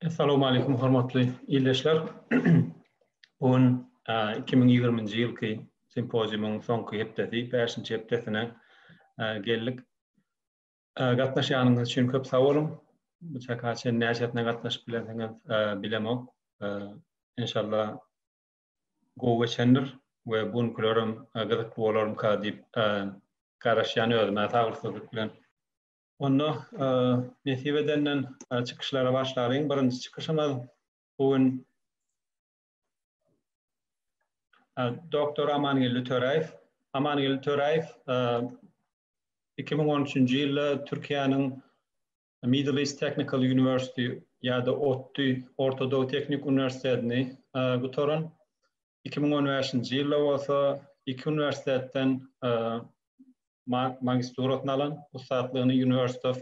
Assalamu aleykum hormatly ildeşler. Bu gün 2020-nji ýylky simpoziumyň soňky hepdesi, bäşinji hepdesine geldik. Gatnaşýanyňyz üçin köp sag boluň. Bu çaka çen näçesine gatnaşyp bilersiňiz, bilemok. Enşalla gowy geçendir we bu günkilerem gyzykly bolarmyka diýip garaşýan özüm-ä sabyrsyzlyk bilen. Onda nesip edenden çykyşlara başlalyň. Birinji çykyşymyz bu gün Doktor Amangeldi Töräýew. Amangeldi Töräýew 2013-nji ýylda Türkiýäniň Middle East Technical University ýa-da ODTÜ, Orta Dow Tehnik Uniwersitetini gutaran. 2015-nji ýylda bolsa iki uniwersitetden magisturasyny alan, ussatlygyny University of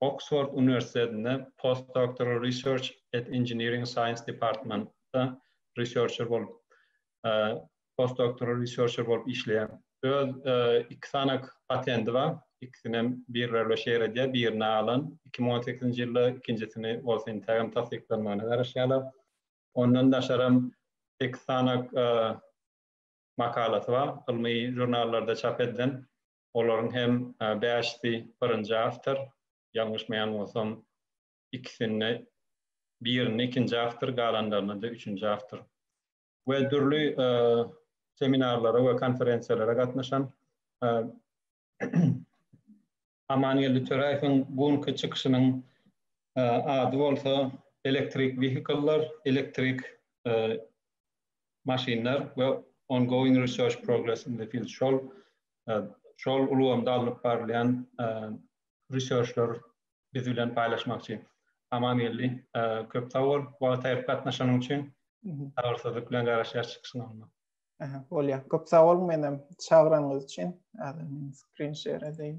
Oksford uniwersitetinde Postdoctoral Research at Engineering Science Department-da researcher bolup, postdoktoral researcher bolup işleýär. Öz iki sany patendi bar, ikisinem birler bilen şeýle edýär, birini alan iki müň on sekizinji ýylda, ikinjisini bolsa intägem tassyklanmagyna garaşýarlar. Ondan daşaram sekiz sany makalasy bar, ylmy žurnallarda çap edilen. Olaryň hem bäşisi birinji awtor, ýalňyşmaýan bolsam, ikisinde birinde ikinji awtor, galanlarynda-da üçünji awtor. We dürli seminarlara we konferensiýalara gatnaşan Amangeldi Töräýewiň bu günki çykyşynyň ady bolsa Elektrik wehikller, elektrik maşynlar we ongoing research progress in the field şol şol ulgamda alnyp barylýan researchlar biz bilen paýlaşmakçy. Amangeldi, köp sag bol, wagt aýryp gatnaşanyň üçin. Sabyrsyzlyk bilen garaşýas çykyşyň alnyna. Aha, bolýar. Köp sag boluň menem çagyranyňyz üçin. Häzir men screen share edeýin.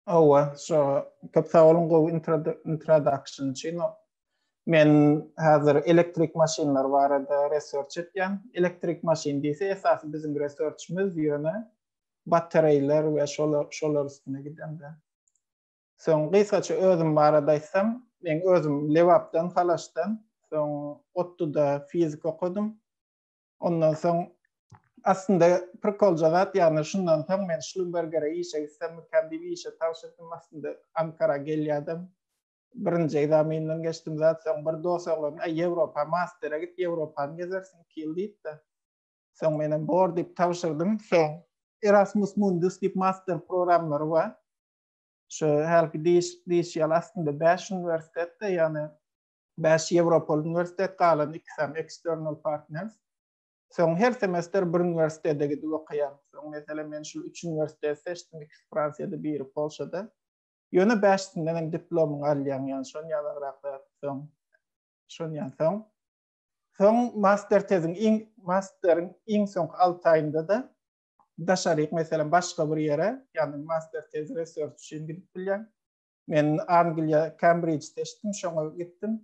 Hawa, şo köp sag boluň gowy introduction üçin. Men häzir elektrik maşynlar barada research etýän. Elektrik maşyn diýse esasy biziň researchimiz ýöne battereýler we şolar şolar üstüne gidende. Soň gysgaça özüm barada aýtsam, men özüm Lebapdan, Halaşdan, soň ODTU-da fizik okadym. Ondan soň aslynda prikolja zat ýagny şundan soň men Şlumbergere işe gitsem mikäm diýip işe tabşyrdym aslynda Ankara gelýärdim. Birinji ekzamenden geçdim zat soň bir dos oglan Aý Ýewropa mastere git Ýewropany gezersiň iki ýyl diýipdi. Soň menem bor diýip tabşyrdym. Soň Erasmus Mundus diýip master programlary bar. Şu hälki diýiş diýişi ýaly aslynda bäş uniwersitetde ýagny Bäş Ýewropaly uniwersitet, galan iki sany external partners. Soň her semestr bir uniwersitete gidip okaýaryn. Soň, meselem, men şul üç uniwersiteti seçdim, ikisi Fransiýada, biri Polşada. Ýöne bäşisinden hem diplomyňy alýaň, ýagny şon ýanagrak zat. Soň, şon ýan soň. Soň master teziň iň, masteriň iň soňky alty aýynda-da daşaryk, meselem, başga bir ýere, ýagny master tez research üçin gidip bilýäň. Men Angliýa Kembridjde eşitdim, şoňa gitdim.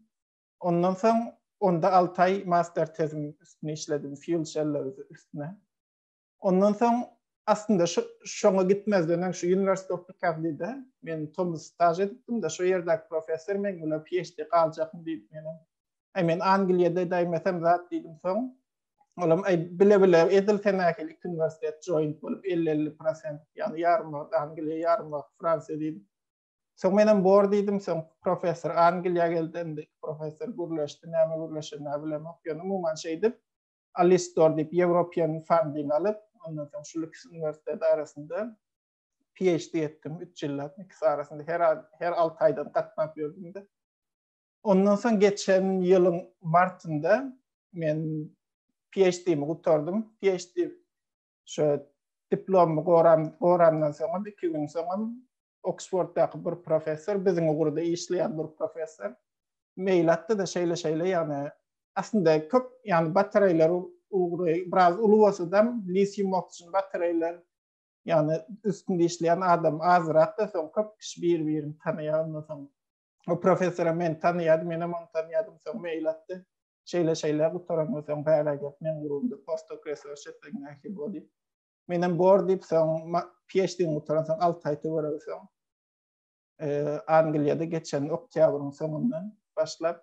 Ondan soň onda 6 aý master tezim üstüne işledim, fuel cell üstüne. Ondan soň aslynda şu şoňa gitmezden öň şu University of Picardy-de men tomus staž edipdim-de, şu ýerdäki professor men bilen PhD galjakmy diýip meni. Aý men Angliýada edäýmesem zat diýdim soň. Olam ay bile bile edil tenakil iki üniversitet joint bolup 50-50 prosent yani yarım wagt Angliya yarım wagt Fransiya diýdim. Soň men hem bor diýdim, soň professor Angliýa geldi, indi professor gürleşdi, näme gürleşen näme bilemok. Ýöne umuman şeýdip Alistor diýip European funding alyp, ondan soň şu Lüks üniversitet arasynda PhD etdim 3 ýyllap, ikisi arasynda her her 6 aýdan gatnap ýördüm-de. Ondan soň geçen ýylyň martynda men PhD-mi gutardym. PhD şu diplomy goram, goramdan soňam iki gün soňam Oksforddaky bir professor, biziň ugurda işleýän bir professor mail atdy da şeýle-şeýle, ýagny aslynda köp, ýagny batareýler ugry biraz uly bolsa-da, litium oksygen batareýler ýagny üstünde işleýän adam azrak da, soň köp kişi bir-birini tanaýar, ondan soň O professora men tanýadym, menem ony tanýadym, soň mail atdy. Şeýle-şeýle gutaran bolsaň bära gel, men gurumda postdoc research etseň nähili bol diýip. Menem bor diýip, soň PhD gutaran soň 6 aý töwerek soň e, Angliýada geçen oktýabryň soňundan başlap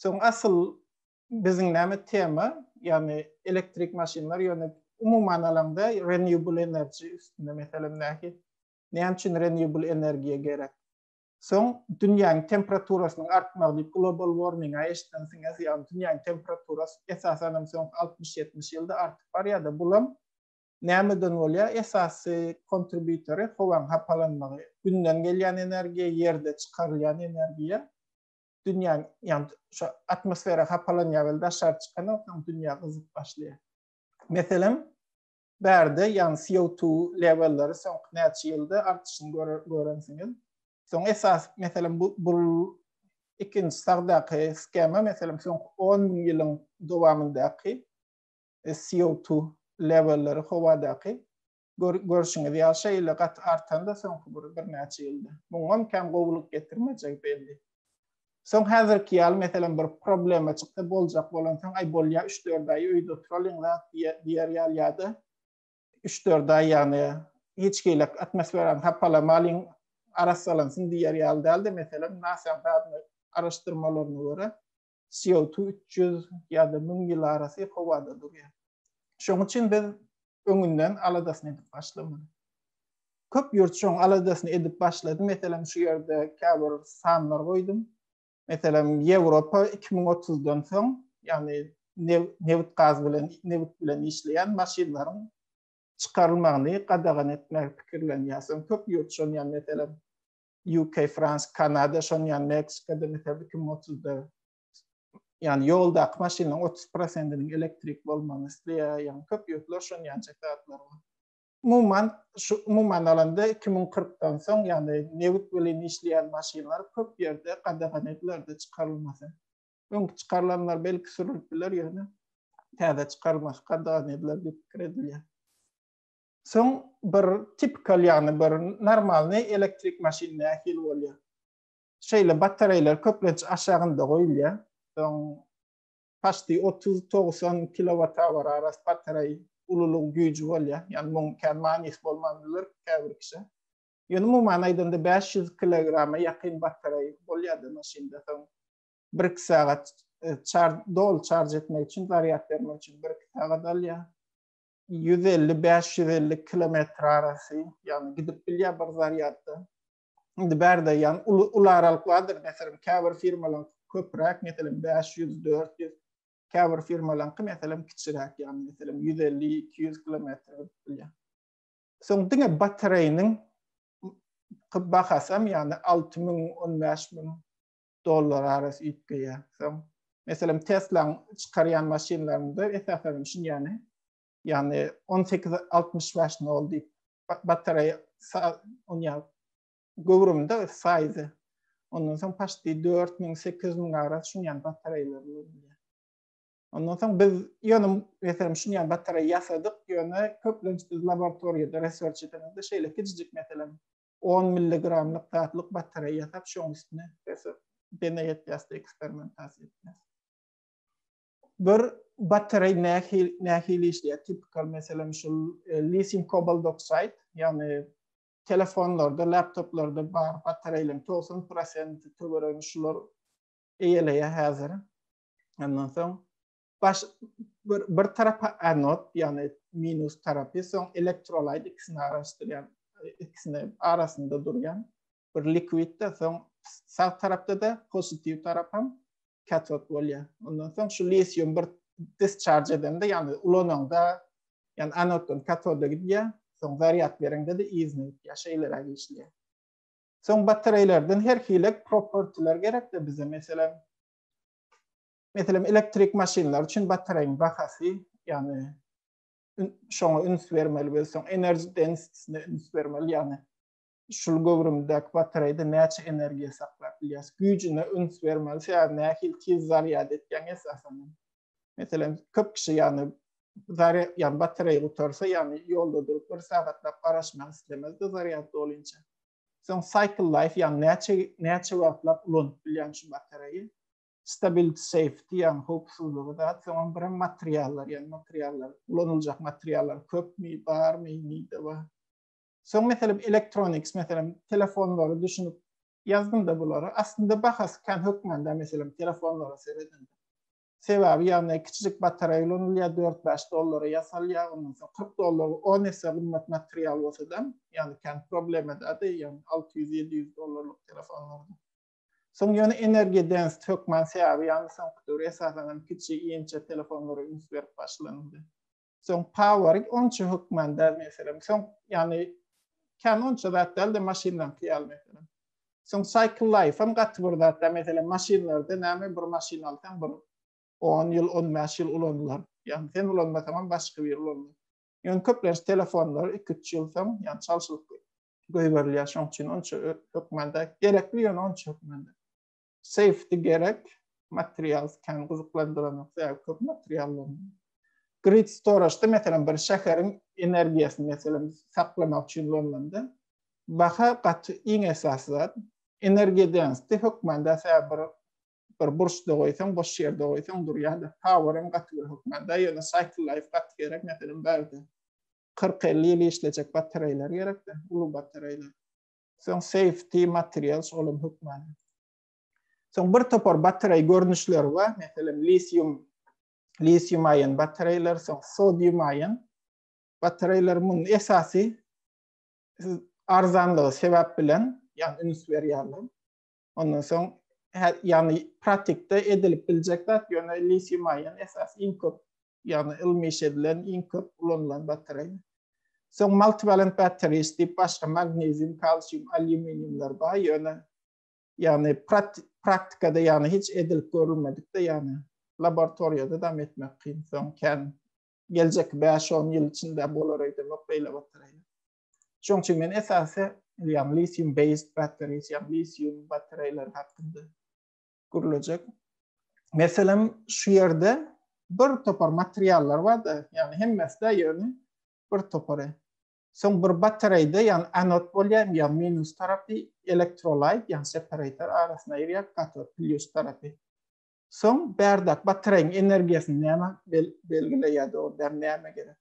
Soň asyl biziň näme tema, ýagny elektrik maşynlar, ýöne umuman alaňda renewable energy üstünde meselem näki, näme üçin renewable energiýa gerek? Soň dünýäň temperaturasynyň artmagy diýip global warming-a eşidensiňiz, ýagny dünýäň temperaturasy esasan hem soňky altmyş-ýetmiş ýylda artyp barýar-da, bulam nämeden bolýar? Esasy kontribýutory howaň hapalanmagy, Günden gelýän energiýa, ýerde çykarylýan energiýa. dünýäň ýany şu atmosfera hapalanýar welin daşary çykanokam dünýä gyzyp başlaýar. Meselem bärde ýani CO2 lewelleri soňky näçe ýylda artyşyny görensiňiz. Soň esas meselem bu bu ikinji sagdaky skema meselem soňky 10 müň ýylyň dowamyndaky e, CO2 lewelleri howadaky Görşüňiz ýaly, şeýle gaty artan-da soňky bir birnäçe ýylda. Muňam kän gowulyk getirmejegi belli. Soň häzirki ýaly, meselem, bir problema çyksa, boljak bolansoň, aý, bolýa, üç-dört aý öýde oturalyň zat diýer ýaly ýa-da üç-dört aý, ýagny hiç hili atmosferany hapalamalyň, arassalansyn diýer ýaly däl-de, meselem, NASA-nyň araşdyrmalaryna görä, CO2 üç ýüz ýa-da müň ýyl arasy howada durýar. Şoň üçin biz öňünden aladasyny edip başlamaly. Köp ýurt şoň aladasyny edip başlady. Meselem, şu ýerde käbir sanlar goýdum. Meselem, Ýewropa iki müň otuzdan soň, ýagny nebit gaz bilen, nebit bilen işleýän maşynlaryň çykarylmagyny gadagan etmegi pikirlenýär. Soň köp ýurt şony, ýagny meselem, UK, Frans, Kanada, şoň ýan Meksika da metel 2030-da ýan ýoldaky maşynlaryň 30%-niň elektrik bolmagyny isleýär, ýan köp ýurtlar şoň ýan çek zatlar bar. Umuman, şu umuman alanda 2040-dan soň ýany nebit bilen işleýän maşynlar köp ýerde gadagan edilerdi çykarylmasy. Öňki çykarylanlar belki sürülip biler ýöne täze çykarylmasy gadagan ediler diýip pikir edilýär. Soň bir tipikal ýagny bir normalny elektrik maşyn nähili bolýar? Şeýle batareýler köplenç aşagynda goýulýar. Soň paşti otuz togsan kilowata barabar batareý ululygy güýji bolýar. Ýagny muň kän manysy bolman biler käbir kişä. Ýöne umuman aýdanda bäş ýüz kilograma ýakyn batareý bolýardy maşynda. Soň bir iki sagat çarj doly çarj etmek üçin zarýad bermek üçin bir iki sagat alýar. ýüz elli, bäş ýüz elli kilometr arasy, ýagny gidip bilýär bir zarýadda. Indi bärde ýan uly uly aralykladyr, meselem, käbir firmalaryň köpräk, meselem, bäş ýüz, dört ýüz, käbir firmalaryňky, meselem, kiçiräk, ýagny, meselem, ýüz elli, iki ýüz kilometr gidip bilýär. Soň diňe batareýniň bahasy hem, ýagny alty müň, on bäş müň dollar arasy üýtgeýär. Soň, meselem, Tesla-nyň çykarýan maşynlarynda esasan hem şun ýany, ýagny on sekiz altmyş bäş nol diýip batareýa onýa göwrümde saýzy. Ondan soň paşti dört müň sekiz müň arasy şun ýany batareýalar bolýar. Ondan soň biz ýöne meselem şun ýany batareýa ýasadyk, ýöne köplenç biz laboratoriýada research edemizde şeýle kiçijik meselem 10 milligramlyk gatlyk batareýa ýasap, şoň üstüne dene ýetýäs-de eksperimentasiýa etýäs. Bir batareý nähili nähili işleýär? Tipikal meselem şul lithium cobalt oxide, ýagny telefonlarda, laptoplarda bar batareýleriň 90 prosenti töweregini şular eýeleýär häzir. Ondan soň baş bir, bir tarapa anod, ýagny minus tarapy, soň elektrolaýt ikisini araşdyrýan, ikisini arasynda durýan bir likwidde, soň sag tarapda-da pozitiw tarap hem katod bolýar. Ondan soň şu lisium bir discharge edende, ýagny ulananda, ýagny anoddan katoda gidýär, soň zarýad berende-de yzyna gidýär, şeýleräk işleýär. Soň batareýlerden her hili propertiler gerek-de bize, meselem, Meselem, elektrik maşynlar üçin batareýiň bahasy, ýagny şoňa üns bermeli bolsaň, enerji densitesine üns bermeli, ýagny şul göwrümdäki batareýde näçe energiýa saklap bilýäs, güýjüne üns bermeli, sebäbi nähili tiz zarýad etýäň esasan. Meselem, köp kişi ýagny zarýad, ýagny batareýa gutarsa, ýagny ýolda durup bir sagatlap garaşmak islemez de zarýad dolince. Soň cycle life, ýagny näçe näçe wagtlap ulanyp bilýän şu batareýi. Stability safety ýagny howpsuzlygy zat, soňam birem materiallar ýagny materiallar ulanyljak materiallar köpmi, barmy, nide bar. Soň meselem electronics meselem telefonlary düşünip ýazdymda bulary. Aslynda bahasy kän hökmanda meselem telefonlara seredende. Sebäbi ýagny kiçijik batareýa ulanylýar dört-bäş dollara ýasalýar ondan soň kyrk dollar on esse gymmat material bolsadam ýagny kän problema däl-de ýagny alty ýüz-ýedi ýüz dollarlyk telefonlarda. Soň ýöne Energy Dance hökman sebäbi ýaly soňky döwür esasanam kiçi inçe telefonlara üns berip başlanyldy. Soň Power'ik onça hökman däl meselem. Soň ýagny kän onça zat däl-de maşynlaňky ýaly meselem. Soň Cycle Life-am gaty bir zat däl meselem maşynlarda näme bir maşyn alsaň bir on ýyl on bäş ýyl ulanylar. Ýagny sen ulanmasaňam başga biri ulanýar. Ýöne köplenç telefonlar iki üç ýyl soň ýagny çalşylyp goýberilýär, şoň üçin onça hökmanda gerekli ýöne onça hökmanda. Safety gerek, material kän gyzyklandyranok, sebäbi köp materiallaryň. Grid storage-da meselem bir şäheriň energiýasyny meselem saklamak üçin ulanylanda baha gaty iň esasy zat. Energiýa density hökmanda sebäbi bir bir burçda goýsaň, boş ýerde goýsaň durýar-da, power-yň gaty bir hökmanda, ýöne cycle life gaty gerek meselem bärde. kyrk-elli ýyl işlejek batareýler gerek-de, uly batareýler. Soň safety materials, olam hökman. Soň bir topar batareý görnüşleri bar, meselem, lisium, lisium-aýon batareýler, soň sodium-aýon batareýler. Munuň esasy arzanlygy sebäp bilen, ýagny üns berýärler. Ondan soň ýagny pratikde edilip biljek zat ýöne litium ion esas iň köp ýagny ylmy iş edilen iň köp ulanylan batareýa. Soň multivalent batteries diýip başga magnezium, kalsium, alýuminiumlar bar ýöne ýagny praktikada ýagny hiç edilip görülmedikde ýagny laboratoriýada dam etmek kyn. Soň kän geljekki bäş-on ýyl içinde bolar öýdemok beýle batareýa. Şoň üçin men esasy ýagny litium based batteries, ýagny litium batareýler hakynda gürlejek. Meselem, şu ýerde bir topar materiallar bar-da, ýagny hemmesi-de ýöne bir topary. Soň bir batareýde, ýagny anod bolýar, ýagny minus tarapy elektrolyt, ýagny separator arasyna girýär, katod plýus tarapy. Soň bärde batareýiň energiýasyny näme belgileýär-de, onda näme gerek?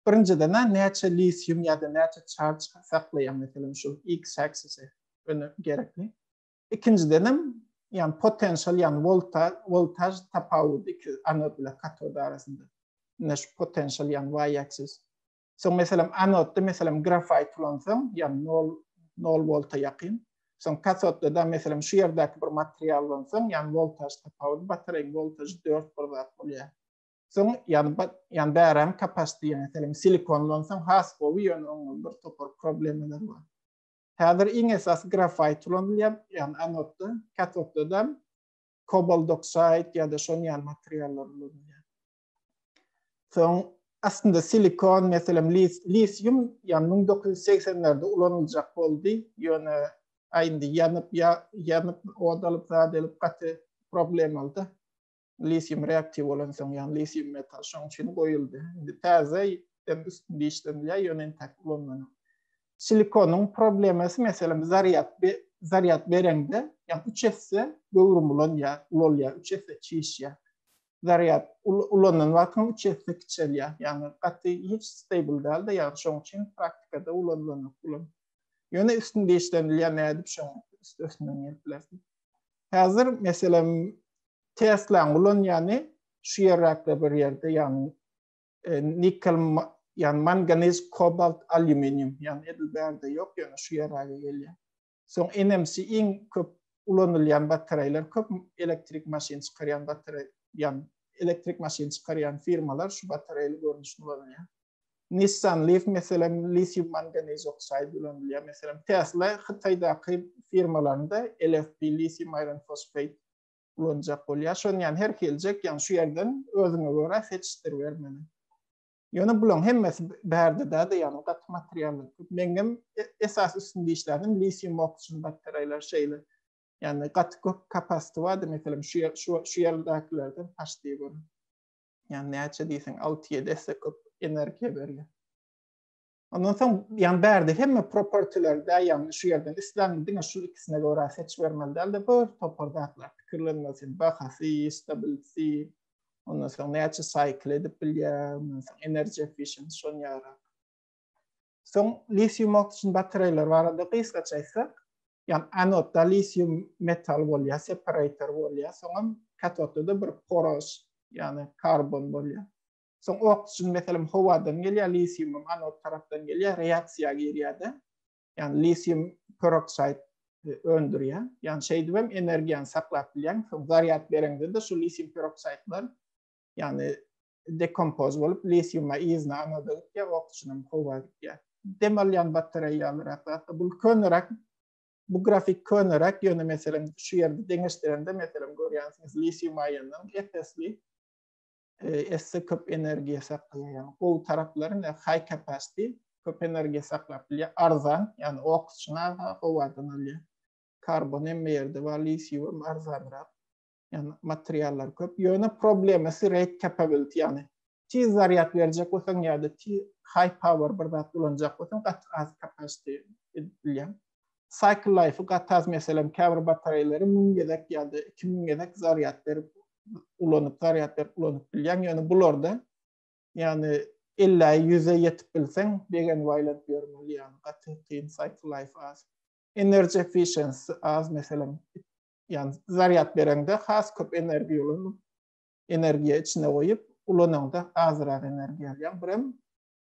Birinjiden-ä näçe litium ýa-da näçe çarj saklaýar, meselem, şul x-aksisi öne gerekli. Ikinjidenem, ýagny potensial, ýagny wolta, woltaž tapawudy iki anod bilen katod arasynda. Ine şu potensial, ýagny y-aksis. Soň, meselem, anodda, meselem, grafait ulansaň, ýagny nol, nol wolta ýakyn. Soň katodda-da, meselem, şu ýerdäki bir material ulansaň, ýagny woltaž tapawudy, batareýiň woltažy dört bir zat bolýar. Soň ýan ýan bäräň kapasiti ýene senin silikonlansan has gowy ýöne oňa bir topar problemalar bar. Häzir iň esasy grafait ulanylýar, ýagny anodda, katodda da kobalt oksaid ýa-da şonuň ýaly materiallar ulanylýar. Soň aslynda silikon meselem lisium ýa müň dokuz ýüz segsenlerde ulanyljak boldy, ýöne aýndy ýanyp ýa ýanyp od alyp zat edip gaty problemalydy. lisium reaktiw bolansoň, ýagny lisium metal şoň üçin goýuldy. Indi täze ýitden üstünde işlenilýär, ýöne entäk ulanmanok. Silikonyň problemasy, meselem, zarýad zarýad bereňde, ýagny üç esse göwrüm ulanýar, ulalýar, üç esse çişýär. Zarýad ulanan wagtyňda üç esse kiçelýär, ýagny gaty hiç stable däl-de, ýagny şoň üçin praktikada ulanylanok bulam. Ýöne üstünde işlenilýär, nädip şoň üstesinden gelip bilersiň. Häzir, meselem, Tesla ulanýany şu ýerlerde bir ýerde, ýagny e, nikel, ýagny manganiz, kobalt, alýuminium, ýagny edil bärde ýok, ýöne şu ýerlere gelýär. Soň NMC iň köp ulanylýan batareýler, köp elektrik maşyn çykarýan batareý, ýagny elektrik maşyn çykarýan firmalar şu batareýli görnüşini ulanýar. Nissan Leaf meselem litium manganiz oksaid ulanylýar. Meselem Tesla Hytaýdaky firmalarynda LFP litium iron phosphate ulanjak bolýar. Şony ýa her geljek, ýa şu ýerden özüňe görä seçdirber meni. Ýöne bularyň hemmesi bärde däde ýa gaty materiallar. Meňem e, esas üstünde işlänim lisium oksigen batareýler şeýle. Ýani gaty köp kapasiti bardy, meselem şu ýer şu şu ýerdekilerden paşdy görün. Ýani näçe diýseň 6-7 esse köp energiýa berýär. Ondan soň ýan bärde hemme propertiler de ýagny şu ýerden isläň diňe şu ikisine görä seç bermeli däl de bir topar zatlar pikirlenmesi bahasy stability ondan soň näçe cycle edip bilýär ondan soň energy efficient şon ýara soň litium oksigen batareýler barada gysgaça aýtsak ýan anodda litium metal bolýar separator bolýar soňam katodda da bir poros ýani karbon bolýar Soň oksigen meselem howadan gelýär, lisiumam anod tarapdan gelýär, reaksiýa girýär-de, ýagny lisium peroksid öndürýär. Ýagny şeýdip hem energiýany saklap bilýäň. Soň zarýad bereňde-de şu lisium peroksidler ýagny dekompoz bolup lisiuma yzyna anoda gitýär, oksigenem howa gitýär. Dem alýan batareýa ýalyrak zat-da. Bu köneräk, bu grafik köneräk, ýöne meselem şu ýerde deňeşdirende meselem görýänsiňiz lisium aýonynyň epesli esse köp energiýa saklaýan gowy taraplary ne high capacity köp energiýa saklap bilýär arzan ýani ok üçin aga gowadan alýar karbon hem ýerde bar lisiýum arzanrak ýani materiallar köp ýöne problemasy rate capability ýani tiz zarýad berjek bolsaň ýa-da tiz high power bir zat ulanjak bolsaň gaty az capacity edip bilýär Cycle Life-y gataz, meselem, käbir batareýleri müň gezek ýa-da iki müň gezek zarýad berip ulanyp, zarýad berip ulanyp bilýäň, ýöne bularda, ýagny elläýi ýüze ýetip bilseň, begenip aýlanyp ýörmeli, ýagny gaty kyn, Cycle Life az. Energy Efficiency az, meselem, ýagny zarýad bereňde has köp energiýa ulanyp, energiýa içine goýup ulanaňda azyrak energiýa alýaň, birem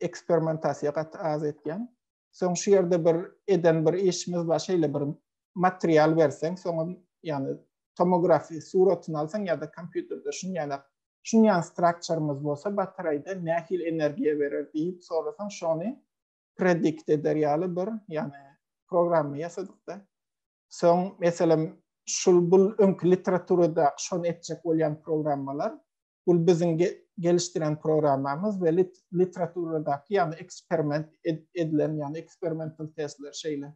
eksperimentasiýa gat az etýän. Soň şu ýerde bir eden bir işimiz bar, şeýle bir material berseň, soňa ýani tomografiýa suratyny alsaň ýa-da kompýuterde şun ýana şun ýan strukturymyz bolsa batareýde nähili energiýa berer diýip sorasaň, şony predikt eder ýaly bir ýani programma ýasadykda. Soň meselem şul bul öňki literaturada şony etjek bolýan programmalar Bul biziň gelişdiren programmamyz we literaturadaky ýagny eksperiment edilen ýagny eksperimental testler şeýle.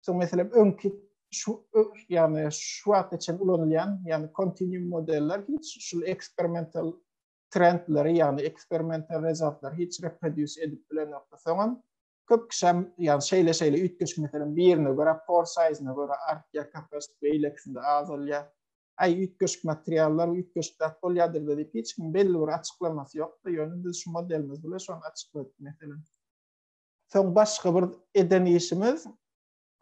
Soň meselem öňki şu ýagny şu wagta çen ulanylýan ýagny kontinuum modeller hiç şul eksperimental trendleri ýagny eksperimental rezultatlary hiç reproduce edip bilenokdy. Soňam köp kişem ýagny şeýle şeýle üýtgeşik meselem birine görä por size-ne görä artýar kapasiti beýlekisinde azalýar. Aý, üýtgeşik materiallar, üýtgeşik zat bolýadyr diýip, hiç kim belli bir açyklamasy ýokdy. Ýöne biz şu modelimiz bilen şony açykladyk, meselem. Soň başga bir eden işimiz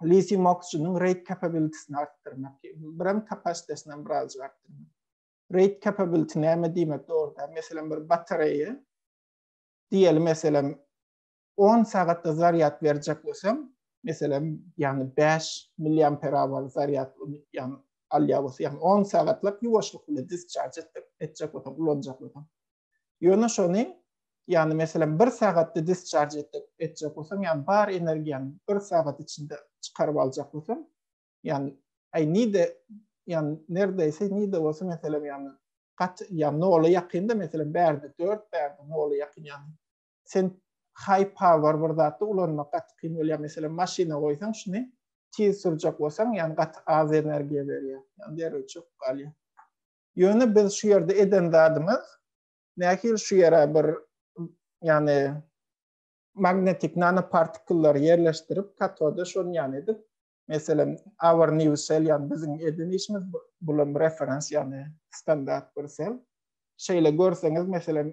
litium oxygen-iň rate capability-sini artdyrmak. Birem kapasitesini hem birazjyk artdyrmak. Rate capability näme diýmek dogrudan? Meselem, bir batareýa, diýeli, meselem, 10 sagatda zarýad berjek bolsam, meselem, ýagny bäş milliamperawar zarýad ýagny alýan bolsa, ýagny on sagatlap ýuwaşlyk bilen disçarj etjek, etjek bolsam, ulanjak bolsam. Ýöne şony, ýagny meselem, bir sagatda disçarj etjek, etjek bolsam, ýagny bar energiýany bir sagat içinde çykaryp aljak bolsam, ýagny aý nide, ýagny nerdeýse nide bolsa, meselem, ýagny gaty, ýagny nola ýakynda, meselem, bärde dört, bärde nola ýakyn, ýagny sen high power bir zatda ulanmak gaty kyn bolýar meselem maşyna goýsaň şuny tiz sürjek bolsaň ýani gaty az energiýa berýär ýani derrew çöküp galýar ýöne biz şu ýerde eden zadymyz nähili şu ýere bir ýani magnetik nanopartiklary ýerleşdirip katoda şony ýani edip Meselem, Our New Cell, ýagny biziň eden işimiz bu, bulam referens, ýagny standart bir sel. Şeýle görseňiz, meselem,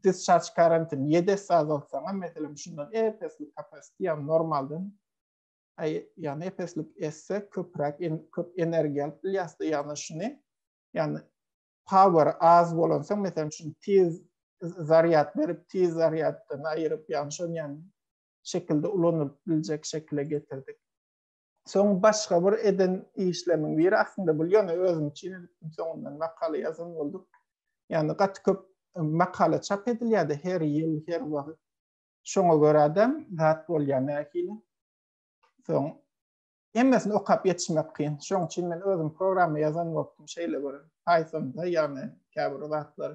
discharge current-yny ýedi esse azaltsaňam, meselem, şundan ep-esli kapasiti, ýagny normaldan, aý, ýagny ep-esli esse köpräk en, köp energiýa alyp bilýäs-de, ýagny şuny, ýagny power az bolan soň, meselem, şuny tiz zarýad berip, tiz zarýaddan aýryp, ýagny şony, ýagny şekilde ulanylyp biljek şekile getirdik. Soň başga bir eden işlerimiň biri aslynda bul ýöne özüm üçin edipdim soňundan makala ýazan bolduk. Ýani gaty köp makala çap edilýärdi her ýyl her wagt. Şoňa görä-de zat bolýar nähili. Soň hemmesini okap ýetişmek kyn. Şoň üçin men özüm programma ýazan bolupdym şeýle bir Pythonda ýani käbir zatlar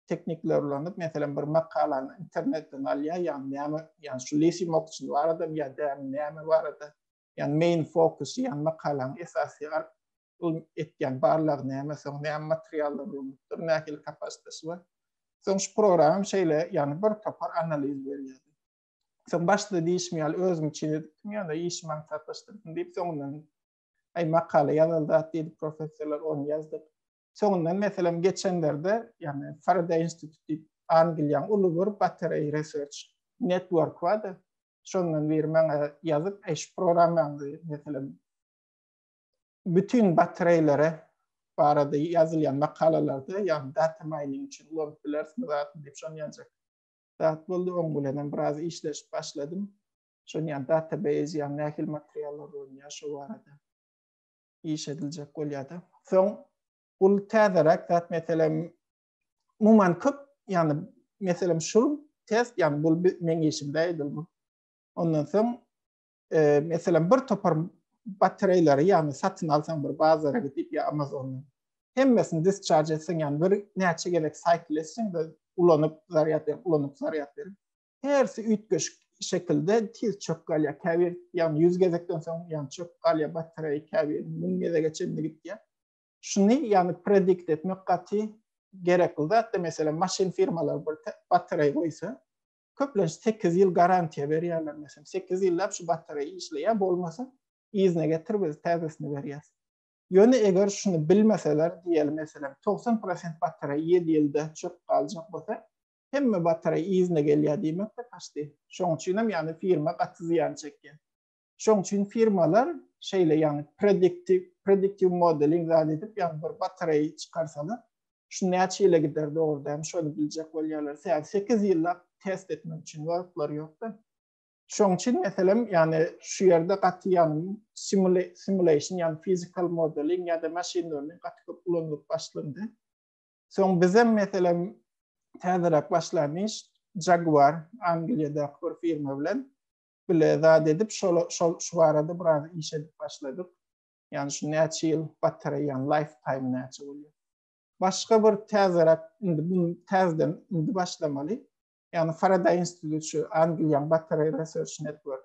teknikler ulanyp, meselem, bir makalany internetden alýar, ýagny näme, ýagny şu Lisi Mokçin baradamy ýa dämi, näme barada, ýagny main focus, ýagny makalanyň esasy ylmy etýän barlagy näme, soň näme materiallar ulanypdyr, nähili kapasitesi bar. Soň şu programam şeýle, ýagny bir topar analiz berýär. Soň başda diýişim ýaly özüm üçin edipdim, ýöne işimi aňsatlaşdyrdym diýip, soňundan, aý, makala ýazyldy-a diýdi, professorlar ony ýazdyk. Soňundan meselem geçenlerde, ýagny Faraday Institute diýip Angliýaň uly bir battery research network bar-da, şondan biri maňa ýazyp, eý şu programmaňyzy meselem bütin battereýlere barada ýazylýan makalalarda, ýagny data mining üçin ulanyp bilersiňiz atyn diýip şony ýazjak. Zat boldy, oň bilen hem biraz işleşip başladym. Şony ýagny database ýagny nähili materiallar bolýar şu barada. iş ediljek bolýada. Soň bul täzeräk zat meselem muman köp ýani meselem şul test ýani bul meň işimde edildi. Ondan soň e, meselem bir topar batareýleri ýani satyn alsaň bir bazara gidip ýa Amazondan hemmesini discharge etseň ýani bir näçe gezek cycle etseň de ulanyp zaryat berip ulanyp zaryat berip Hersi üýtgeşik şekilde tiz çöp galýar. Käbir, ýagny ýüz gezekden soň, ýagny çöp galýar, batareýa käbir müň gezege çenli gitýär. Şuny, ýagny predikt etmek gaty gerekli zat. Meselem, maşyn firmalary bir batareýa goýsa, köplenç sekiz ýyl garantiýa berýärler. Meselem, sekiz ýyllap şu batareýa işleýär, bolmasa yzyna getir biz täzesini berýäs. Ýöne eger şuny bilmeseler, diýeli meselem, togsan prosent batareýa ýedi ýylda çöp galjak bolsa, hemme batareý yzyna gelýär diýmek-de kaçdy. Şoň üçin hem ýagny firma gaty zyýan çekýär. Şoň üçin firmalar şeýle ýagny prediktiw, prediktiw modeling zat edip ýagny bir batareý çykarsalar şu näçe ýyla gider dogry dämi şony biljek bolýarlar. Sebäbi sekiz ýyllap test etmek üçin wagtlary ýokda. Şoň üçin meselem ýagny şu ýerde gaty ýagny simulation ýagny fizikal modeling ýa-da machine learning gaty köp ulanylyp başlandy. Soň bizem meselem täzeräk başlan iş Jaguar Angliýadaky bir firma bilen bile zat edip şol şol şu barada biraz iş edip başladyk. Ýani şu näçe ýyl batareýaň lifetime näçe bolýar. Başga bir täzeräk indi bu täzeden indi başlamaly. Ýani Faraday instituty Angliýaň batareý research network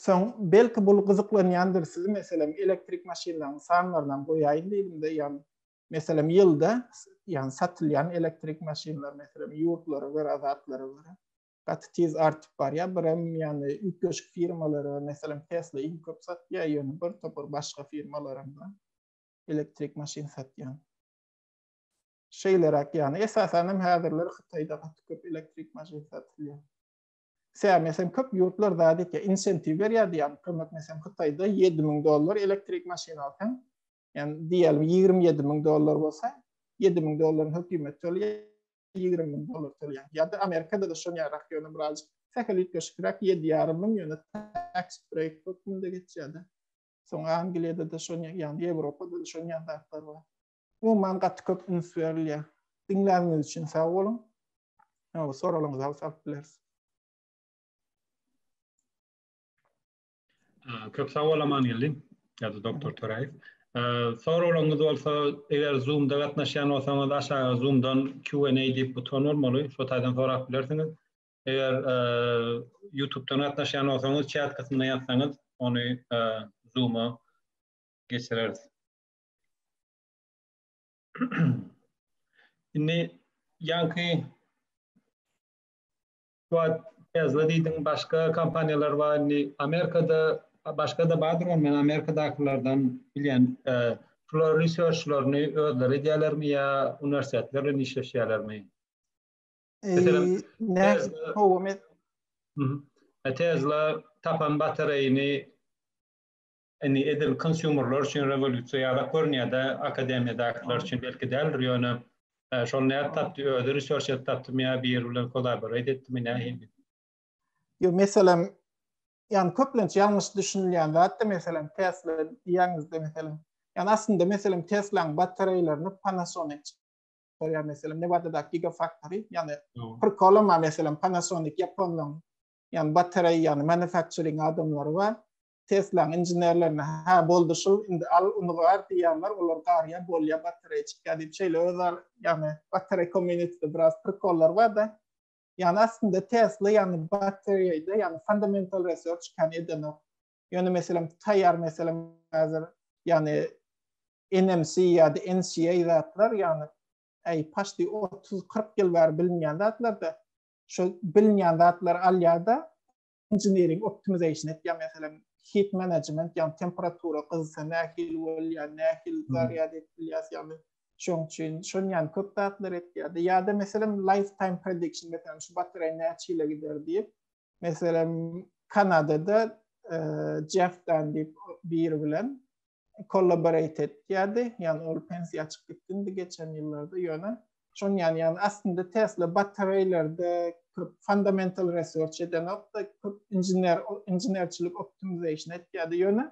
Soň, belki bul gyzyklanýandyr sizi meselem elektrik maşynlaryň sanlarynam goýaýyn diýdimde ýan meselem ýylda ýan satylýan elektrik maşynlar meselem ýurtlara görä zatlara görä gaty tiz artyp barýar birem ýany ýükleşik firmalara meselem tesla iň köp satýar ýöne bir topar başga firmalaram bar elektrik maşyn satýan şeýleräk ýany esasanam häzirler hytaýda gaty köp elektrik maşyn satylýar Sen mesem köp ýurtlar zat etýär, insentiv berýär diýýän kömek mesem Hytaýda 7000 dollar elektrik maşyn alsaň, ýani diýýälim 27000 dollar bolsa, 7000 dollaryň hökümet tölýär, 20000 dollar tölýär. Ýa-da Amerikada-da şoň ýarak ýöne biraz sähel üýtgeşikräk 7 ýarym müň ýöne tax break hökmünde geçýär-de. Soň Angliýada-da şoň ýaly, Ýewropada-da şoň ýaly zatlar bar. Umuman gaty köp üns berilýär. Diňläniňiz üçin sag boluň. Ýa-da soralyňyzy alyp salyp bileris. Köp sag bol Amangeldi. Ýa-da doktor Töräýew. Soralyňyz bolsa, eger Zoom-da gatnaşýan bolsaňyz, aşaga Zoom-dan Q&A diýip buton bolmaly. Şo taýdan sorap bilersiňiz. Eger YouTube-dan gatnaşýan bolsaňyz, çat kysymyna ýazsaňyz, ony Zoom-a geçireris. Indi ýanky Quad Tesla diýdiň, başga kompaniýalar bar. Indi Amerikada başga-da bardyr, men Amerikadakylardan bilýän, e, şular researchlaryny özleri edýärlermi ýa uniwersitetler bilen işleşýärlermi? Meselem, Tesla, Tesla tapan batareýini Indi edil konsumerler üçin rewolýusiýa ýadak görünýärde, akademiýadakylar üçin belki däldir, ýöne şol nädip tapdy, özi research edip tapdymy ýa biri bilen kollaborate etdimi nähili? Ýok, meselem, ýagny köplenç ýalňyş düşünilýän zat-da, meselem, Tesla diýýäňizde, meselem, ýagny aslynda, meselem, Tesla-nyň batareýlerini Panasonic çykarýar, meselem, Nevadadaky gigafaktory, ýagny prikolyma, meselem, Panasonic ýaponlaryň, ýagny batareý, ýagny manufacturing adamlary bar, Tesla-nyň inženerlerine, Hä, boldy şul, indi al, uny gar diýýärler, olar garýar, bolýar, batareýa çykýar diýip, şeýle öz ar, ýagny batareý kommunitede biraz prikollar bar-da. Ýagny aslynda Tesla, ýagny batareýde, ýagny fundamental research kän edenok. Ýöne meselem, taýýar meselem häzir, ýagny NMC ýa-da NCA zatlar, ýagny äý paşdi otuz, kyrk ýyl bäri bilinýän zatlar-da, şol bilinýän zatlary alýar-da, Engineering optimization et ýa meselem heat management ýa temperatura gyzsa nähili bolýa nähili zarýad et bilýas ýaly şoň üçin şon ýany köp zatlar et ýa-da ýa-da meselem life time prediction meselem şu batareý näçe ýyla gider diýip meselem kanadada jeff dan diýip biri bilen kollaborate etýärdi. Ýani ol pensiýa çykyp gitdi geçen ýyllarda ýöne şonuň ýany ýani aslynda Tesla batareýlerde köp fundamental research edenokda köp injener injenerçilik optimization etýärdi ýöne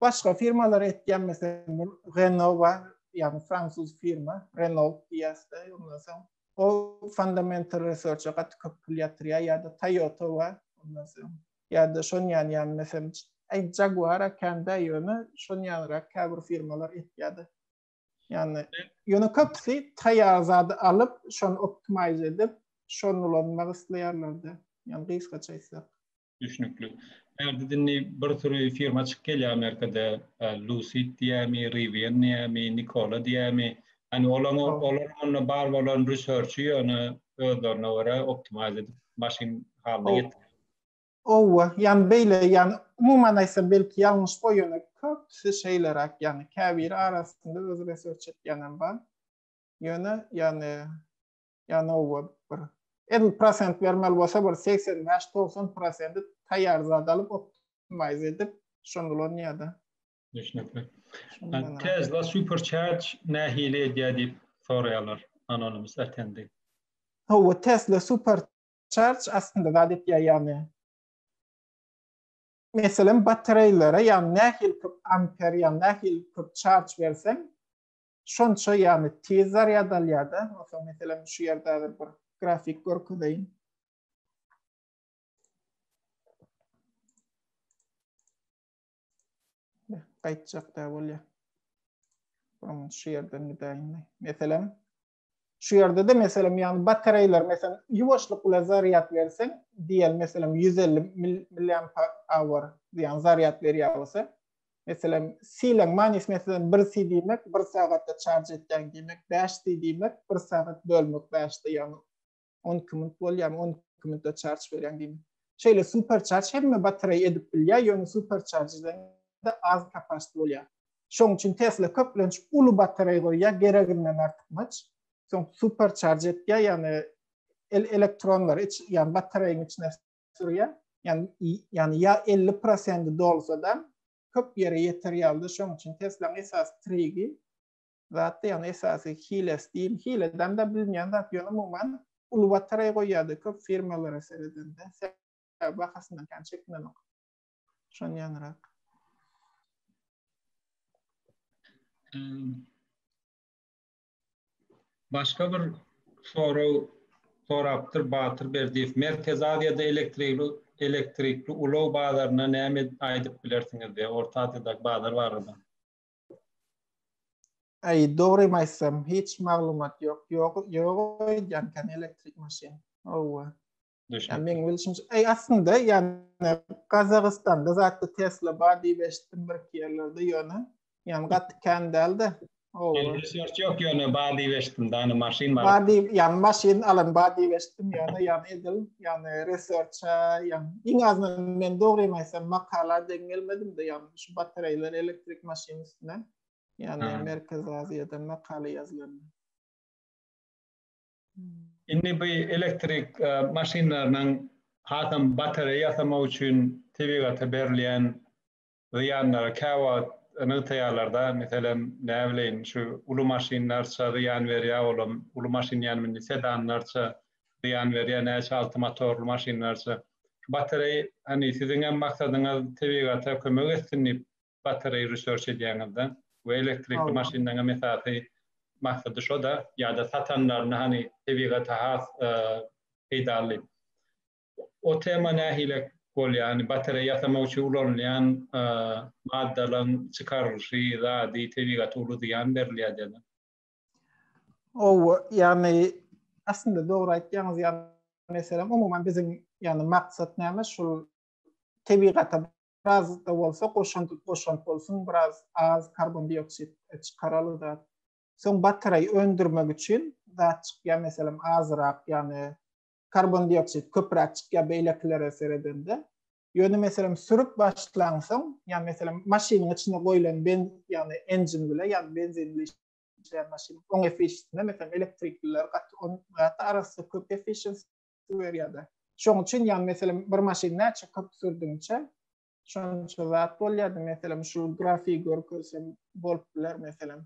başga firmalar etýän meselem Renault bar ýani fransuz firma Renault diýäsde ondan soň o fundamental research-a gaty köp pul ýatyrýar ýa-da Toyota bar ondan soň ýa-da şon ýany ýany mesem aý Jaguar a kände ýöne şon ýanyrak käbir firmalar etýäde. Ýani ýöne köpüsi taýýar zady alyp şony optimize edip şony ulanmak isleýärlerde. Ýani gysgaça aýtsak. Düşnükli. Häzir indi bir süri firma çykyp gelýär Amerikada Lucid diýämi, Rivian diýämi, Nikola diýämi. Ýani olaň olaryň onda bar bolan research ýöne özlerine görä optimize edip maşyn halyna getirýärler. Howwa, ýani beýle, ýani umuman aýtsam belki ýalňyş boý ýöne köpüsi şeýleräk ýani käbiri arasynda özi research etýänem bar. Ýöne ýani ýani howwa bir edil prosent bermeli bolsa bir segsen bäş togsan prosenti taýýar zat alyp optimize edip şony ulanýada. Düşnükli. Tesla supercharge nähili edýär diýip soraýarlar anonymous attendi. Howwa Tesla super Charge aslynda zat etýär ýagny meselem batareýlere ýagny nähili köp amper ýagny nähili köp charge berseň şonça ýagny tiz zarýad alýarda masalan meselem şu ýerde häzir bir grafik görkezeýin. Gaýtjak da bolýar. Bunu şu ýerden gidäýin. Meselem Şu ýerde-de meselem, ýagny batareýler, meselem, ýuwaşlyk bilen zarýad berseň, diýeli, meselem, ýüz elli milliamper-awr diýen zarýad berýär bolsa, meselem, sileň manysy, meselem, bir si diýmek, bir sagatda çarj etýäň diýmek, bäş si diýmek, bir sagat bölmek bäşde, ýagny 12 minut bolýar, 12 minutda çarç berýän diýme. Şeýle super çarç hemme batareýa edip bilýär, ýöne super çarjdan da az kapasiti bolýar. Şoň üçin Tesla köplenç uly batareý goýýar, gereginden artykmaç. Soň super çarj etýär, ýagny el elektronlar iç, ýagny batareýiň içine sürýär. Ýagny ýagny ýa 50% dolsa da köp ýere ýeter ýalyda, şoň üçin Tesla-nyň esasy trigi zat diýen esasy hilesi diýil. Hileden de bilinýän zat ýöne umuman uly batareý goýýardy köp firmalara seredende. Sebäbi bahasyndan kän çekinenok. Şonýanrak. Başga bir sorag sorapdyr Batyr Berdiýew. Merkezi Aziýada elektrikli elektrikli ulag bazaryna näme aýdyp bilersiňiz diýýär. Orta Aziýadaky bazar barada. Ay dogrymy aýtsam, hiç maglumat ýok. Ýok, ýok aýdýan kan elektrik maşyn. Owa. Düşün. Men bilşim, ay aslynda ýani Gazagystanda zatda Tesla bar diýip eşitdim bir iki ýerlerde ýöne. Ýani gaty kän däldi. Owa. Ýöne söz ýok ýöne bar diýip eşitdim. Dany maşyn bar. Bar diýip, ýani maşyn alan bar diýip eşitdim ýöne ýani edil, ýani research-a, ýani iň azyndan men dogrymy aýtsam makala deň gelmedim-de ýani. Şu batareýler elektrik maşyn üstüne, ýagny Merkezi Aziýada makala ýazylanda. Indi bu elektrik maşynlarynyň hasam batareýa ýasamak üçin tebigata berilýän zyýanlary käwagt nygtaýarlar-da, meselem, näbileýin, şu uly maşynlarça zyýan berýär, olam uly maşyn ýanym indi sedanlarça zyýan berýär, näçe alty motorly maşynlarça. Şu batareý, hany siziň hem maksadyňyz tebigata kömek etsin diýip batareý research edýäňizda we elektrikli maşynlaryň hem esasy maksady şo-da ýa-da satanlaryny hany tebigata has peýdaly o tema nähili bolýar, hany batareý ýasamak üçin ulanylýan maddalaryň çykarylyşy, zady tebigata uly zyýan berilýär diýen. Owa, ýagny aslynda dogry aýtýaňyz, ýagny meselem umuman biziň ýagny maksat näme şul tebigata biraz da bolsa goşant goşant bolsun, biraz az karbon dioksid çykaraly da. Soň batareý öndürmek üçin zat çykýar meselem azyrak ýagny karbon dioksid köpräk çykýar beýlekilere seredende. Ýöne meselem sürüp başlaňsoň, ýa meselem maşynyň içine goýlan ben, ýagny engine bile, ýagny benzin bile işleýän maşyn, oň efficiency-ne meselem elektrikliler gaty on gaty arassa köp efficiency berýärde. Şoň üçin ýagny meselem bir maşyn näçe köp sürdüňçe şonça zat bolýardy. Meselem şu grafigi görkezsem bolup biler meselem.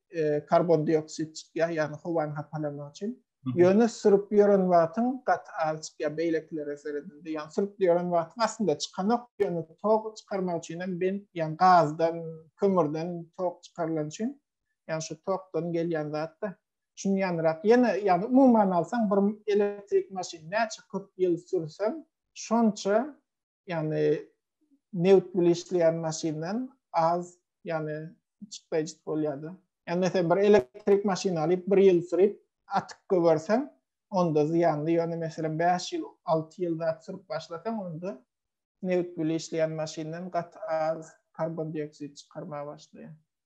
e, karbon dioksid çykýar, ýagny howany hapalamak üçin. Ýöne sürüp ýören wagtyň gaty az çykýar beýlekilere seredende. Ýagny sürüp ýören wagtyň aslynda çykanok, ýöne tok çykarmak üçin hem ben, ýagny gazdan, kömürden tok çykarylan üçin, ýagny şu tokdan gelýän zatda şuny ýanyrak. Ýene ýagny umuman alsaň bir elektrik maşyn näçe köp ýyl sürseň, şonça ýagny nebit bilen işleýän maşyndan az ýagny çykdaýjyt bolýardy. Ýagny mesela bir elektrik maşyny alyp bir ýyl sürip atyp göberseň onda zyýanly ýöne mesela 5 ýyl 6 ýyl zat sürüp başlasaň onda nebit bilen işleýän maşyndan gat az karbon dioksid çykarmaga başlaýar.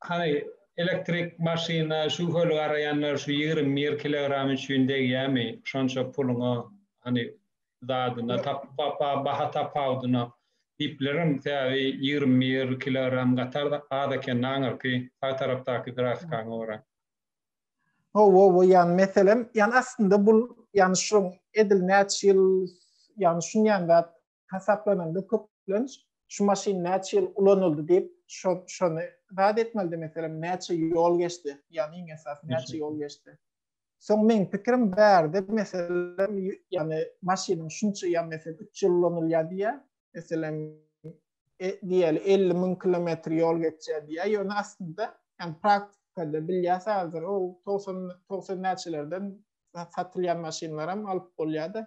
Hany elektrik maşyna şübheli garaýanlar şu ýigrimi bir kilogram üçin degýämi şonça puluňa hany zadyna baha tapawudyna diýiplerem sebäbi ýigrimi bir kilogram gatar az eken aňyrky sag tarapdaky grafikaňa görä. Hawa bu ýan meselem ýan aslynda bul ýan şuň edil näçe ýyl ýan şuň ýan zat hasaplananda köplenç şu maşyn näçe ýyl ulanyldy diýip şony zat etmelidi meselem näçe ýol geçdi ýani iň esas näçe ýol geçdi Soň meň pikirim bärde meselem ýany maşynyň şunça ýan mesel 3 ýyl ulanylýar diýýä. Meselem e, diýeli 50 müň kilometr ýol geçýär diýýä. Ýöne aslynda ýan praktikada bilýär sadr o 90 90 näçelerden satylýan maşynlaram alyp bolýar-da.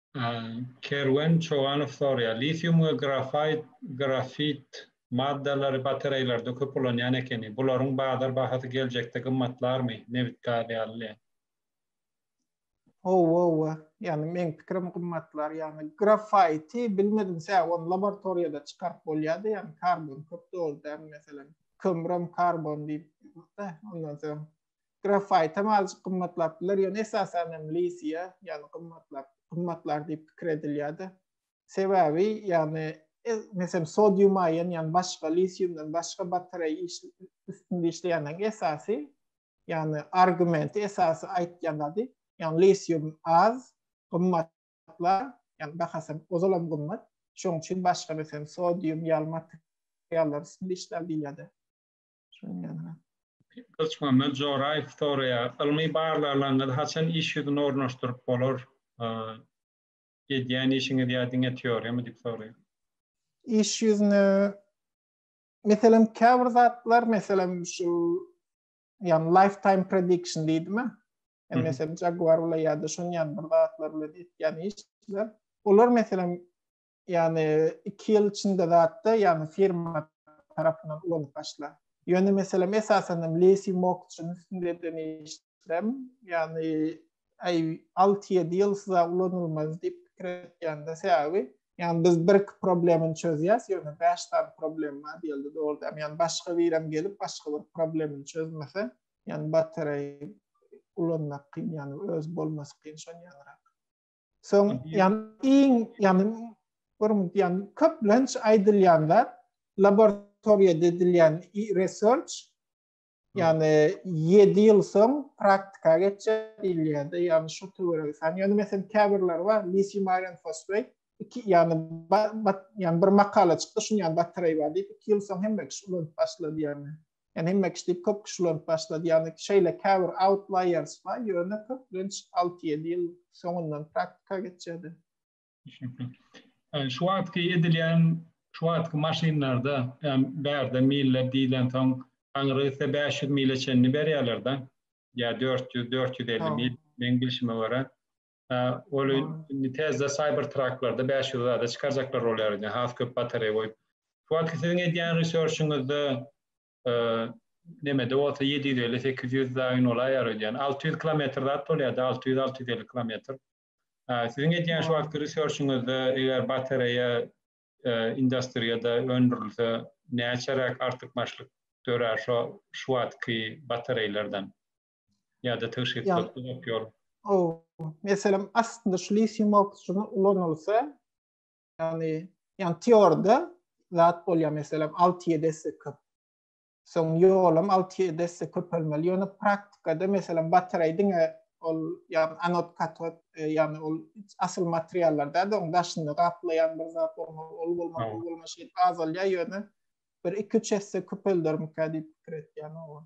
Kerwen Çoganow soraýar, Litium we grafit, grafit, maddalary batareýlerde köp ulanýan ekeni. Bularyň bazar bahasy geljekde gymmatlarmy, nebit-gaz ýaly? Howwa, howwa. Ýagny meň pikirim gymmatlar. Ýagny grafiti bilmedim sä, ony laboratoriýada çykaryp bolýar-da, ýagny karbon köp doly däl, meselem, kömürem karbon diýip, ondan soň Grafait hem azjyk gymmatlap biler, ýöne esasan hem lisiýa, ýagny gymmatlap, gymmatlar diýip pikir edilýär-de. Sebäbi, ýagny, meselem, sodium aýon, ýagny başga lisiumdan başga batareý iş, üstünde işleýänleriň esasy, ýagny argumenti, esasy aýtýan zady, ýagny lisium az, gymmat lar, ýagny bahasy hem ozal hem gymmat, şonuň üçin başga, meselem, sodium ýaly materiallar üstünde işlär diýilýär-de. Gylyçmuhammet Joraýew soraýar, Ylmy barlaglaryňyzy haçan iş ýüzüne ornaşdyryp bolar? Edýän işiňiz ýa diňe teoriýamy diýip soraýar. Iş ýüzüne, meselem, käbir zatlar, meselem, şu ýagny lifetime prediction diýdimi? Ýa meselem Jaguar bilen ýa-da şuny ýaly bir zatlar bilen etýän işler. Olar meselem ýagny iki ýyl içinde zatda ýagny firma tarapyndan ulanyp başla. Ýöne meselem esasanam leasing mortgage-nyň üstünde eden işlem, ýagny aý alty-ýedi ýyl size ulanylmaz diýip pikir etýände sebäbi ýagny biz bir iki problemini çözýäs, ýöne bäş sany problem bar diýildi dogrudanam. Ýagny başga birem gelip başga bir problemini çözmese, ýagny batareý ulanmak kyn ýagny öz bolmasy kyn şon ýalyrak. Soň ýan iň ýan bir ýan köp lens aýdylýanda laboratoriýada edilýän research ýany 7 ýyl soň praktika geçýär diýilýärdi. Ýani şu töweregi san. Ýani mesen käbirler bar, lisium iron fosfat iki ýani ýani bir makala çykdy, şuny ýani bataraýa bar diýip, 2 ýyl soň hemme kişi ulanyp başlady ýani. Yani hemme kişi deyip köp kişi ulanyp başlady. Yani şeyle käbir outliers var. Yöne köplenç 6-7 yıl soňundan praktika geçedi. Yani şu atki edilen şu atki maşinlarda yani bärde miller diyilen son aňry ise 500 mile çenli berýärler da. Ya 400 450 mil men bilşime göre. Ol indi täze Cybertrucklarda bäş ýüz zada çykarjaklar bolýar indi, has köp batareýa goýup. Şu wagtky siziň edýän researchiňizde nemede bolsa ýedi ýüz elli, sekiz ýüz daýyn bolaýýar öýdýän. Alty ýüz kilometr zat bolýar-da, alty ýüz, alty ýüz elli kilometr. Siziň edýän şu wagtky researchiňizde eger batareýa industriýada öndürilse, näçeräk artykmaçlyk dörär şo şu wagtky batareýlerden? ýa-da tygşytlykly bok ýol. Ow, meselem, aslynda şu litium oksidi ulanylsa, ýagny, ýagny teorda zat bolýar, meselem, alty-ýedi esse köp. Soň ýolam alty-ýedi esse köpelmeli, ýöne praktikada, meselem, batareý diňe ol, ýagny anod, katod, ýagny ol asyl materiallar däl-de, onuň daşyny gaplaýan bir zat bolmaly, ol bolmaly, bu bolmaly, şeýdip azalýar, ýöne bir iki-üç esse köpeldermikä diýip pikir etýän, oba.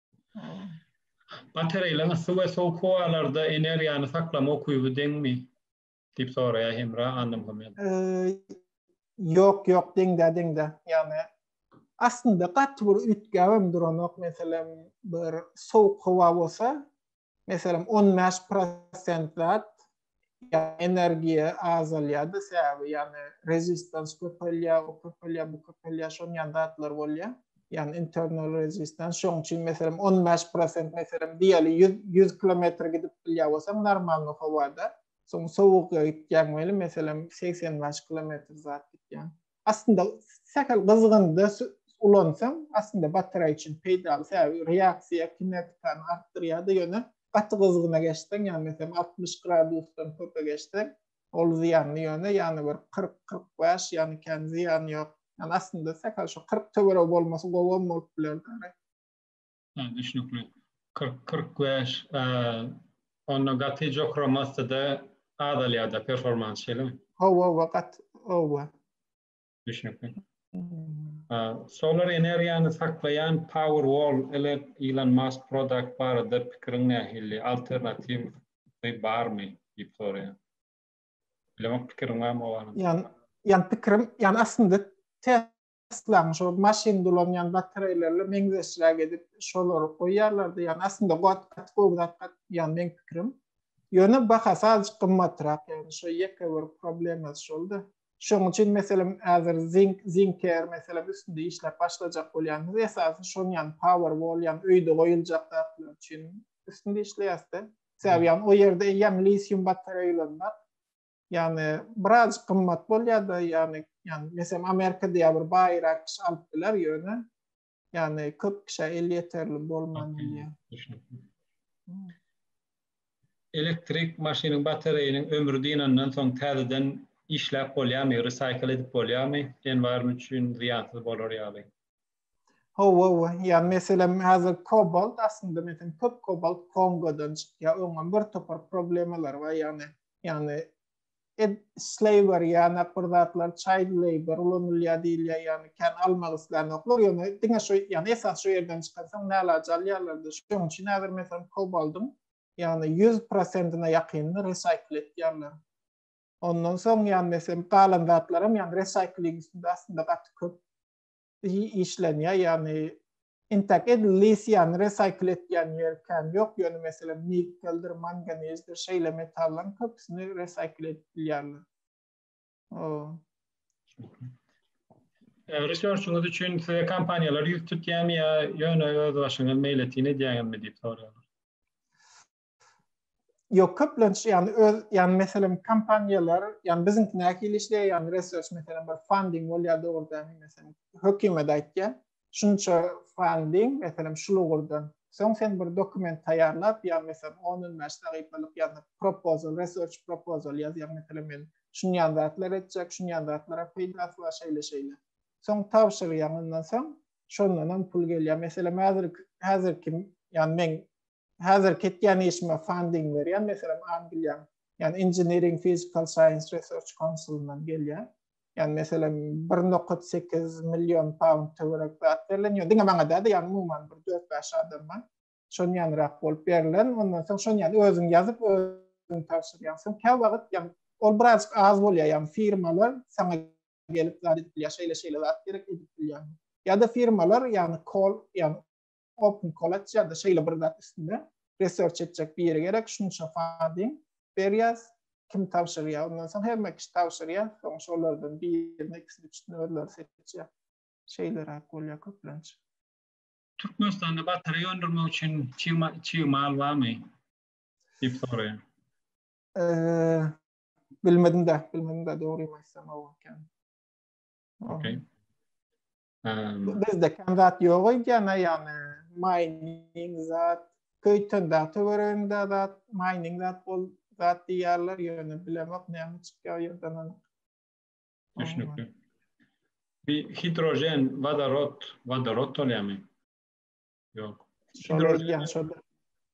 Batareýlaryň yssy we sowuk howalarda energiýany saklama ukyby deňmi? diýip soraýar Hemra Annamuhammedowa. Ýok, ýok, deň-dä, deň-dä. Ýagny aslynda gaty bir üýtgäbem duranok. Meselem, bir sowuk howa bolsa, Meselem, on bäş prosentlap energiýa azalýardy, sebäbi ýagny rezistans köpelýär, o köpelýär, bu köpelýär, şonuň ýaly zatlar bolýar. Ýagny internal rezistans. Şonuň üçin meselem, on bäş prosent meselem diýeli ýüz ýüz kilometr gidip bilýär bolsaň normalny howada, soň sowukga gitýäň weli meselem segsen bäş kilometr zat gitýäň. Aslynda sähel gyzgynda ulansaň, aslynda batareýa üçin peýdaly. Sebäbi reaksiýa kinetikany artdyrýar-da, ýöne gaty gyzgyna geçseň, ýagny meselem altmyş gradusdan köpe geçseň, ol zyýanly, ýöne ýagny bir kyrk, kyrk bäş, ýagny kän zyýany ýok. Ýagny aslynda sähel şu kyrk töweregi bolmasy gowam bolup bilerdi. Ha, düşnükli. Kyrk, kyrk bäş, onda gaty jokra massada azalýar-da performans, şeýlemi? Hawa, hawa, gat, hawa. Düşnükli. Solar energiýany saklaýan Powerwall ile Elon Musk Product barada pikiriň nähili, alternatiwy barmy? diýip soraýar. Bilemok, pikiriň barmy o barada? Ýa, ýa pikiriň, ýa aslynda Aslaň şol maşyn dolanýan batareýlerle meňzeşräk edip şolary goýýarlardy. Ýagny aslynda gat gaty gowy zat gat ýagny meň pikirim. Ýöne bahasy azajyk gymmatrak ýagny şo ýeke bir problemasy şolda. Şoň üçin meselem häzir zink zinker meselem üstünde işläp başlajak bolýarmyz. Esasy şony ýagny power wall ýagny öýde goýuljak zatlar üçin üstünde işleýäsde. Sebäbi ýagny o ýerde eýýäm lisium batareýlerim bar. Ýagny biraz gymmat bolýarda ýagny ýagny meselem Amerikada ýa bir baýrak kişi alyp biler ýöne ýagny köp kişä el ýeterli bolman bilýär. Düşnükli. Elektrik maşynyň batareýiniň ömri dynandan soň täzeden işläp bolýarmy, resaýkl edip bolýarmy? Enwaryň üçin zyýansyz bolar ýaly. Hawa, hawa. Ýagny meselem häzir kobalt aslynda meselem köp kobalt Kongodan çykýar. Oňam bir topar problemalary bar ýagny ýagny slaver ýagny bir zatlar çaýd labor ulanylýar diýilýär ýagny kän almak islänoklar ýöne diňe şu ýagny esas şu ýerden çykarsaň nälaç alýarlarda şoň üçin häzir meselem kobaldyň ýagny ýüz prosentine ýakynyny resaýkl etýärler ondan soň ýagny meselem galan zatlaram ýagny resaýkling üstünde aslynda gaty köp işlenýär, ýagny intäk edilýs, ýagny resaýkl etýän ýeri kän ýok, ýöne meselem nikkeldir, manganezdir şeýle metallaryň köpüsini resaýkl edip bilýärler. Research-yňyz üçin size kompaniýalar ýüz tutýarmy ýa ýöne öz başyňyz meýletin edýäňizmi diýip soraýarlar. Yok köplenç yani öz yani meselem kampanyalar yani bizimki näkili işleýär yani research meselem bir funding bolýar dogrudan meselem hökümet aýtýar şunça funding meselem şu lugurdan soň sen bir dokument taýýarlap ýa meselem 10-15 sahypalyk ýa-da proposal research proposal ýazýar meselem men şuny ýan zatlar etjek şuny ýan zatlara peýdasy bar şeýle şeýle soň tabşyrýaň ondan soň şondan hem pul gelýär meselem häzir häzirki ýa men Häzir ketýän işime funding berýän, meselem, Angliýa, ýani Engineering Physical Science Research Council-yndan gelýär. Ýani meselem, 1,8 million pound töwerek zat berlen, ýöne diňe maňa däl-de, ýani umuman bir dört-bäş adama şon ýanyrak bolup berlen. Ondan soň şony ýani özüň ýazyp, özüň tabşyrýaň. Soň kä wagt, ýani ol birazjyk az bolýar, ýani firmalar saňa gelip zat edip bilýär, şeýle-şeýle zat gerek edip bilýärmi? Ýa-da firmalar ýani kol, ýani open college ya da şeýle bir zat üstünde research etjek biri gerek şunça funding berýäs kim tabşyrýar ondan soň hemme kişi tabşyrýar soň şolardan birini ikisini üçüsini özleri seçýär şeýleräk bolýar köplenç Türkmenistanda batareýa öndürmek üçin çig mal barmy diýip soraýan bilmedim-de bilmedim-de dogrymy aýtsam owalkän okay Bizde kan zat yok öýdýän yani mining zat köyten da töwerende zat mining zat bol zat diýýärler ýöne bilemok näme çykýar ýerden anyk. Düşnükli. Bir hidrojen, vodorod, vodorod bolýarmy? Yok. Hidrojen şoda.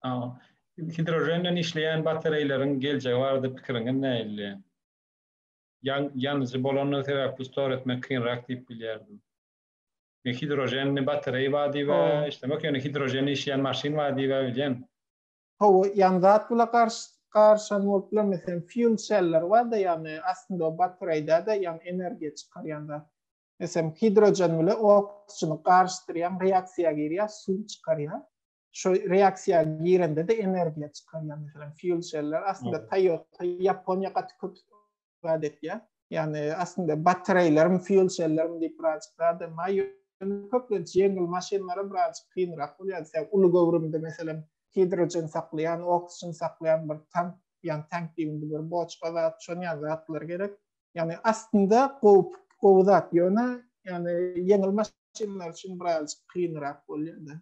Aa. Hidrojen bilen işleýän batareýleriň geljegi barada pikiriňiz nähili? ýanyjy bolandygy sebäpli store etmek kynrak diýip bilýärdim. Men hidroženli batareý bar diýibä işlemek, ýöne hidroženli işleýän maşyn bar diýibä bilýän. Hawa, ýan zat bula garyşan bolup bilemesem, fuel cell-ler bar-da, ýagny aslynda o batareýdä-de ýan energiýa çykarýan zat. Meselem, hidrožen bilen oksijeni garyşdyrýaň, reaksiýa girýär, suw çykarýar. şu reaksiýa girende de energiýa çykarýar. Meselem, fuel celler aslynda Toyota, Ýaponiýa gaty köp zat etýär. Ýani aslynda batareýlerim, fuel cellerim diýip birazjyk zat hem bar. Köplenç ýeňil maşynlara birazjyk kynrak bolýar. Sen uly göwrümde meselem hidrogen saklaýan, oksigen saklaýan bir tank, ýani tank diýmeli bir boçka zat, şonuň ýaly zatlar gerek. Ýani aslynda gowy, gowy zat, ýöne ýani ýeňil maşynlar üçin birazjyk kynrak bolýar-da.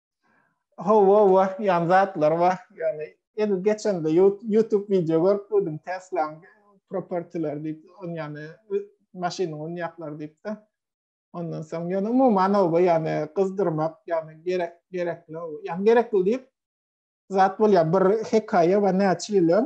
Hawa, wa, ýan zatlar wa, ýani el geçende YouTube wideo görüp gördüm Tesla propertiler diýip, on ýani maşynyň on ýaklar diýipdi. Ondan soň ýani umuman o ýani gyzdyrmak, ýani gerek gerekli, ýani gerekli diýip zat bolýar. Bir hekaýa we näçe ýyl öň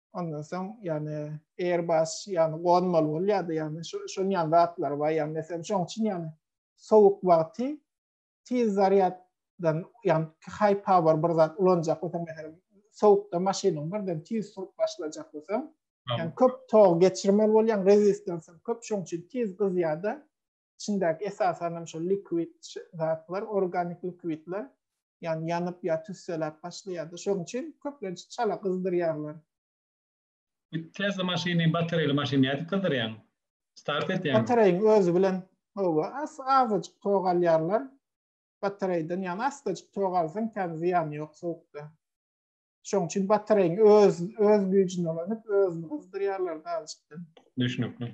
Ondan soň ýani Airbus ýani gonmaly bolýardy ýani şonuň ýaly zatlar bar ýani meselem şoň üçin ýani sowuk wagty tiz zarýad dan ýani high power bir zat ulanjak bolsaň meselem sowukda maşynyň birden tiz surup başlajak bolsaň ýani köp tog geçirmeli bolýaň rezistansyň köp şoň üçin tiz gyzýarda içindäki esasan hem şol liquid zatlar, organik liquidler, ýagny ýanyp ýa tüsseläp başlaýardy. Şonuň üçin köplenç çala gyzdyrýarlar. Tesla maşyny batareýaly maşyn nädip gyzdyrýaň? Start etýäňmi? Batareýiň özi bilen howa az azajyk tok alýarlar batareýden ýagny asdajyk tok alsaň kän zyýany ýok sowukda. Şoň üçin batareýiň öz öz güýjüni ulanyp, özüni gyzdyrýarlar daljykda. Düşnükli.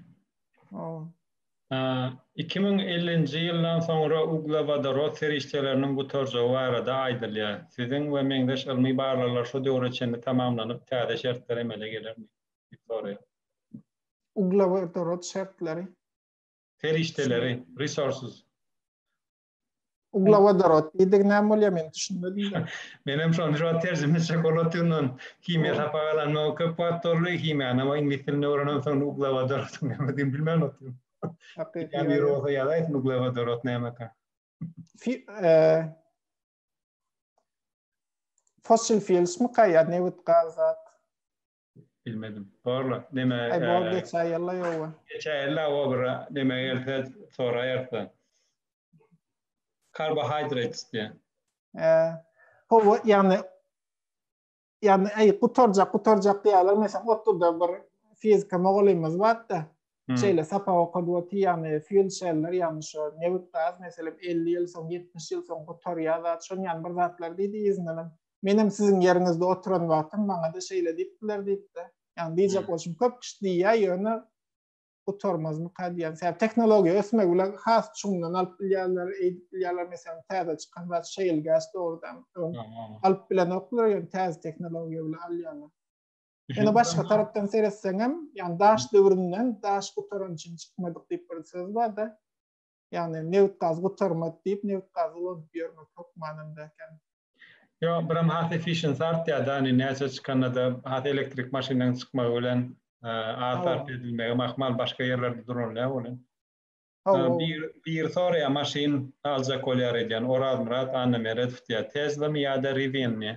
Ow. 2050-nji ýyldan soňra uglewodorod serişdeleriniň gutarjagy barada aýdylýar. Siziň we meňzeş ylmy barlaglar şu döwre çenli tamamlanyp, täze şertler emele gelermi? diýip soraýar. Uglewodorod şertleri. Serişdeleri, resources. Uglewodorod diýdigi näme bolýar men düşünmedim. Men hem şony şu wagt terjime etjek bolup otyryn. Himiýa sapak alanyma köp wagt boldy. Himiýany hem iňlis dilinde öwrenem soň uglewodorod nämedigini bilmän otyryn. Hakyky. Bir bolsa ýazaýsyn uglewodorod nämeka. Fossil fuels mi kaýa nebit gaz zat. Bilmedim. Borla. Neme? Ay bor geçä ýylla ýowa. Geçä ýylla o bir neme gelse soraýarsa. Carbohydrates diýä. He. Howa ýagny ýagny aý gutarjak gutarjak diýýärler meselem otluda bir fizika mugallymymyz bardy. Şeýle sapak okadyp otyr ýagny fuel shell'ler ýagny şu nebit gaz meselem 50 ýyl soň 70 ýyl soň gutarýar zat şon ýagny bir zatlar diýdi ýüzünden Menem siziň ýeriňizde oturan wagtym maňa-da şeýle diýipdiler diýipdi. Ýagny diýjek bolşum köp kişi diýýär, ýöne gutarmazmyka diýýän. Sebäbi tehnologiýa ösmegi bilen has çuňdan alyp bilýärler, eýdip bilýärler. Meselem, täze çykan zat şeýle gäs dogrudan öň alyp bilenoklar, ýöne täze tehnologiýa bilen alýarlar. Ýöne başga tarapdan seretseňem, ýagny daş döwründen daş gutaran üçin çykmadyk diýip bir söz bar-da. ýagny nebit gaz gutarmady diýip nebit gazy ulanyp ýörmek hökmanynda eken. Ýo biram has efficience artýar da hani näçe çykanada has elektrik maşynyň çykmagy bilen az sarp edilmegi mahmal başga ýerlerde duranlar bolýar. Bir bir soraýar maşyn aljak bolýar edýän Orazmyrat Annameredow diýär Teslamy ýada Rivianmy?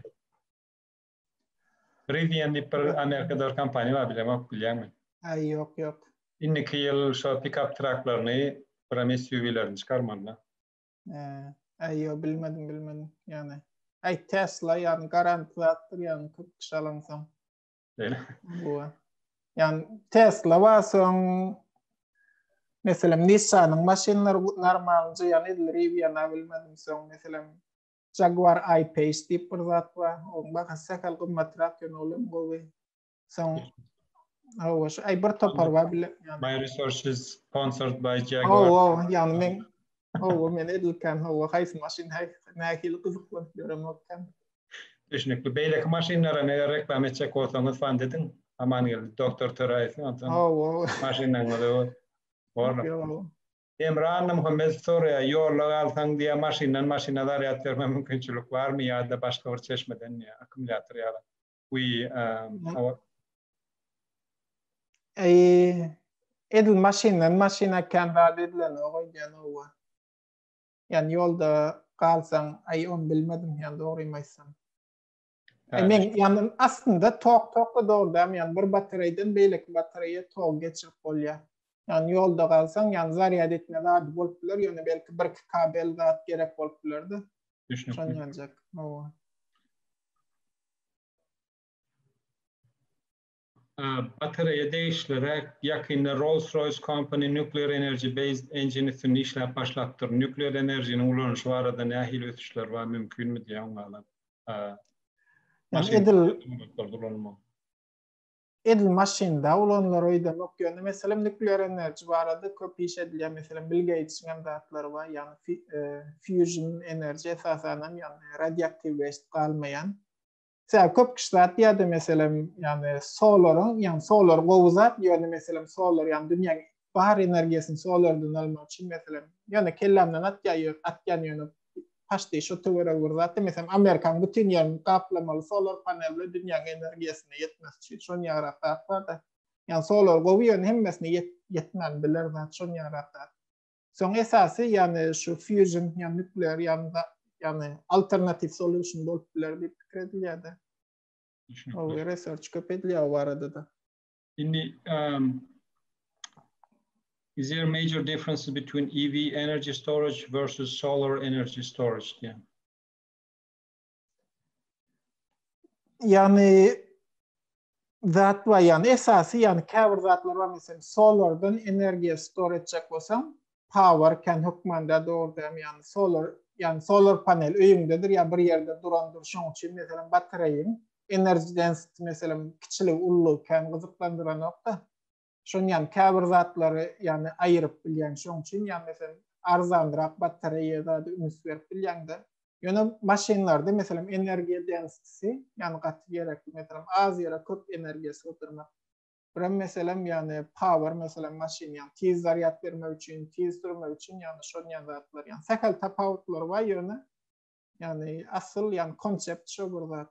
Rivian diýip bir Amerikada bir kompaniýa bar bilemok bilýäňmi? Aý ýok ýok. Indiki ýyl şo pikap traklaryny biram SUV-lerini çykarmalyda. Aý ýok bilmedim bilmedim ýagny. Aý Tesla ýagny garant zatdyr ýagny kyrk kişi alansoň. Beýle. Ýagny Tesla bar soň meselem Nissan-yň maşynlary normalnje ýagny edil Rivian-a bilmedim soň meselem Jaguar I-Pace diýip bir zat bar. Onuň bahasy sähel gymmatrak, ýöne ol hem gowy. Soň Hawa, şu aý bir topar bar bile. My research is sponsored by Jaguar. Hawa, ýagny men Hawa, men edilkän hawa, haýsy maşyn nähili gyzyklanyp ýörem okän. Düşnükli. Beýleki maşynlaram eger reklama etjek bolsaňyz fand ediň. Amangeldi doktor Töräýew onsoň maşynlaryňyzy bor. Hemra Annamuhammedow soraýar, ýolda galsaň diýýär, maşyndan maşyna zarýad berme mümkinçilik barmy ýa-da başga bir çeşmeden diýýär, akkumulýator ýaly. Edil maşyndan maşyna kän zat edilenok öýdýän howwa. Ýani ýolda galsaň, aý ony bilmedim ýan dogrymy aýtsam. Men ýanyn aslynda tok tokda dogrudan ýan bir batareýden beýleki batareýa tok geçirip bolýar. Ýan ýolda galsaň ýan zarýad etme zady bolup biler ýöne belki bir iki kabel zat gerek bolup bilerdi. Düşünikli. Batareýa degişli räk ýakynda Rolls-Royce Company Nuclear Energy Based Engine üstünde işläp başlapdyr. Nukleer enerjiniň ulanyşy barada nähili ösüşler bar, mümkinmi diýýär oňa ýalam. Ýani edil ulanmak. Edil maşynda ulanylar öýdemok, ýöne meselem nukleer enerji barada köp iş edilýär. Meselem Bill Geýtsiň hem zatlary bar, ýani fusion enerji esasanam ýani radioaktiw geçip galmaýan. Sebäbi köp kişi zat diýýärdi, meselem, ýagny solar-yň, ýagny solar gowy zat, ýöne meselem solar, ýagny dünýäniň bar energiýasyny solardan almak üçin, meselem, ýöne kellämden atýar, ýö, atýan ýöne paşty şo töweregi bir zatdy. Meselem, Amerikanyň bütin ýerini gaplamaly solar panel bilen dünýäniň energiýasyny ýetmesi üçin şon ýarak zat bar-da. Ýagny solar gowy, ýöne hemmesine ýet, ýetmän biler zat şon ýarak zat. Soň esasy, ýagny şu fusion, ýagny nuklear ýa-da ýagny alternatiw solution bolup biler diýip pikir edilýär-de. Ol research köp edilýär o barada-da. Indi um, is there major differences between EV energy storage versus solar energy storage diýen. ýagny zat bar ýagny esasy ýagny käbir zatlar bar meselem solardan energiýa store etjek bolsaň power can hökmanda dogrudan ýagny solar ýagny solar panel öýüňdedir ýa bir ýerde durandyr şoň üçin meselem batareýiň energy density meselem kiçilik ullugy kän gyzyklandyranokda Şoň ýan käbir zatlary ýany aýyryp bilýän şoň üçin ýa meselem arzanrak batareýa zady üns berip bilýäňde. Ýöne maşynlarda meselem energiýa densitisi ýany gaty gerekli meselem az ýere köp energiýa sygdyrmak. Birem meselem ýany power meselem maşyn ýany tiz zarýad bermek üçin tiz sürmek üçin ýany şoň ýan zatlar ýany sähel tapawutlar bar ýöne ýany asyl ýany konsept şo bir zat.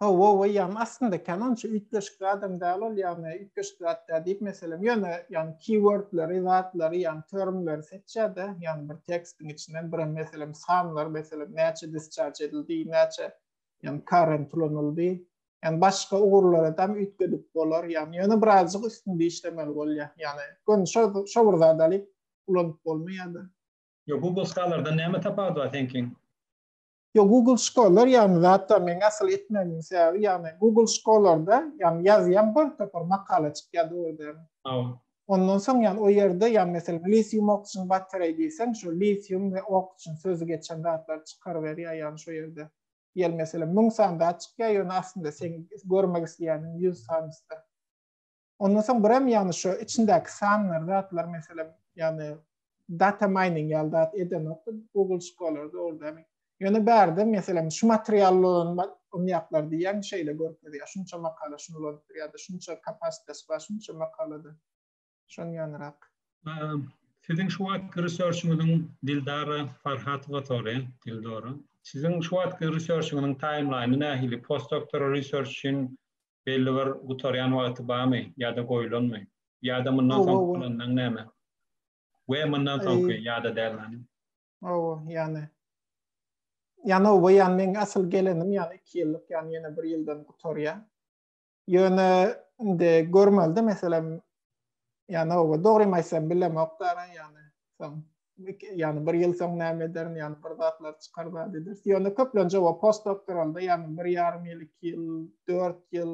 Hawa, we ýagny aslynda kän onça üýtgeşik zadam däl ol, ýagny üýtgeşik zat däl diýip meselem, ýöne ýagny keywordleri, zatlary, ýagny termleri seçýär-de, ýagny bir tekstiň içinden birem meselem sanlar, meselem näçe discharge edildi, näçe ýagny current ulanyldy, ýagny başga ugurlaradam üýtgedip bolar, ýagny ýöne birazjyk üstünde işlemeli bolýar, ýagny göni şo şo bir zady alyp ulanyp bolmaýar-da. Ýok, bu bosgalardan näme tapawudy bar seňkiň? Ýok, Google şkolalar, ýagny zatlar meň asyl etmegimiň sebäbi, ýagny Google şkolalarda, ýagny ýazýan bir topar makala çykýar dogry dälmi? Hawa. Ondan soň ýagny o ýerde ýagny meselem litium oxygen battery diýseň şo litium we oxygen sözi geçen zatlary çykaryberýär ýagny şo ýerde. Ýel meselem müň sany zat çykýar ýöne aslynda seň görmek isleýäniň ýüz sanysdyr. Ondan soň birem ýagny şu içindäki sanlar zatlar meselem ýagny data mining ýaly zat edenokdy Google şkolalarda orada hem. Ýöne bärde meselem şu material ulanmak umýaklar diýýän şeýle görkezýär. Şunça makala şunu ulanypdyr ýa-da şunça kapasitesi bar şunça makalada. Şonuň ýanyrak. Siziň şu wagtky researchiňiziň Dildara Farhatowa soraýan, Dildora. Siziň şu wagtky researchiňiziň taýmlaýny nähili? Postdoktora research üçin Belli bir gutarýan wagty barmy ýa-da goýulanmy? Ýa-da mundan soňky planlaň näme? We mundan soňky ýa-da däl many? Hawa, ýany Ýany hawa, ýany meň asyl gelenim ýany iki ýyllyk, ýany ýene bir ýyldan gutarýar. Ýöne indi görmeli-de, meselem, Yani o doğru mu aýtsam bilem ok dara yani. Soň yani bir ýyl soň näme ederin yani bir zatlar çykar zat eder. Ýöne köplenje o post doktoralda yani bir ýarym ýyl, iki ýyl, dört ýyl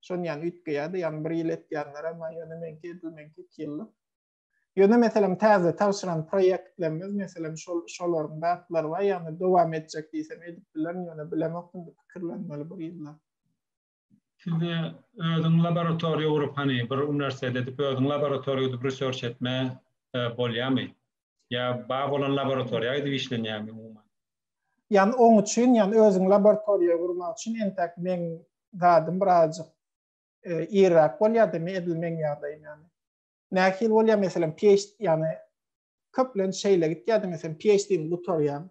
şon yani üýtgeýärdi. Yani bir ýyl etýänler ama ýöne menki edil menki iki ýyllyk. Ýöne meselem täze tabşyran proýektlerimiz meselem şol şolaryň zatlary bar yani dowam etjek diýsem edip bilerin ýöne bilemok indi pikirlenmeli bir ýyllap. Size özüň laboratoriýa gurup hany bir uniwersitet edip özüň laboratoriýa edip research etme e, bolýamy? Ýa bar bolan laboratoriýa edip işlenýämi umuman? Ýani oň üçin, ýani özüň laboratoriýa gurmak üçin entäk meň zadym birazjyk e, irräk bolýardy, edil meň ýagdaýym ýani. Nähili bolýar meselem PhD ýani Köplenç şeýle gitýär, diňe sen PhD-ni gutarýaň,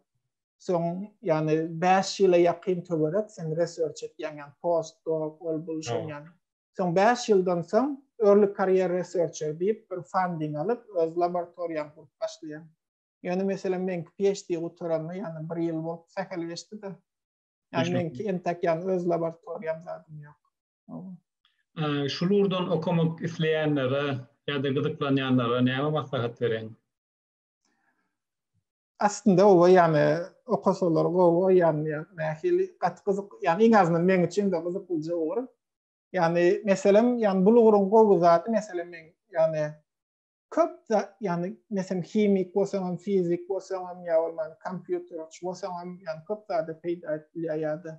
soň ýagny 5 ýyla ýakyn töwerek sen research etýäň, ýagny postdoc, ol bul şoň ýaly. Soň 5 ýyldan soň early career researcher diýip bir funding alyp, öz laboratoriýaňy gurup başlaýaň. Ýöne meselem meňki PhD gutaranyma ýagny bir ýyl bolup sähel geçdi-de. Ýagny meňki entek ýagny öz laboratoriýam zadym ýok. Şu lurdan okamak isleýänlere ýa-da gyzyklanýanlara näme maslahat bereň? Aslynda oba ýany okasalar gowy, ýany nähili gaty gyzyk, ýany iň azyndan meň üçin-de gyzyklyja ugur. Ýany meselem, ýany bul ugruň gowy zady meselem meň ýany köp da ýany meselem himik bolsaňam, fizik bolsaňam ýa bolman kompýuterçi bolsaňam ýany köp zada peýda edip bilýär ýa-da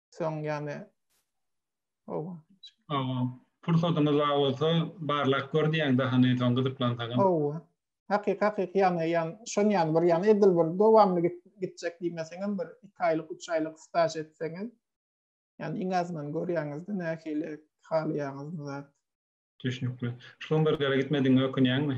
soň ýane Owa. Owa. Pursatyňyz bar bolsa barlap gör diýýän daha ne soň gyzyklansaňyz. Owa. Hakyky hakyky ýane ýan şon ýan bir ýan edil bir dowamly git gitjek diýmeseňem bir iki aýlyk üç aýlyk staž etseňiz ýani iň azyndan görýäňizde nähili halaýaňyz zat. Düşnükli. Şlumbergere gitmedigiňe ökünýäňmi?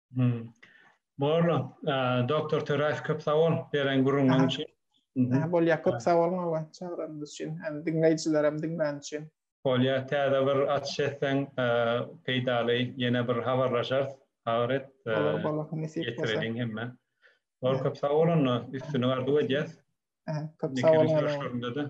Boldy. Doktor Töräýew köp sag bol beren gürrüňiň üçin. Bolýar, köp sag boluň hawa çagyranyňyz üçin hem diňleýjilerem diňläni üçin. Bolýar, täze bir açyş etseň peýdaly ýene bir habarlaşarys. Habar et. Bolar, bolar, nesip bolsa. Ýetireliň hemmä. Bol köp sag bol onda, üstünlik arzuw edýäs. Köp sag boluň. Görüşleriňde-de.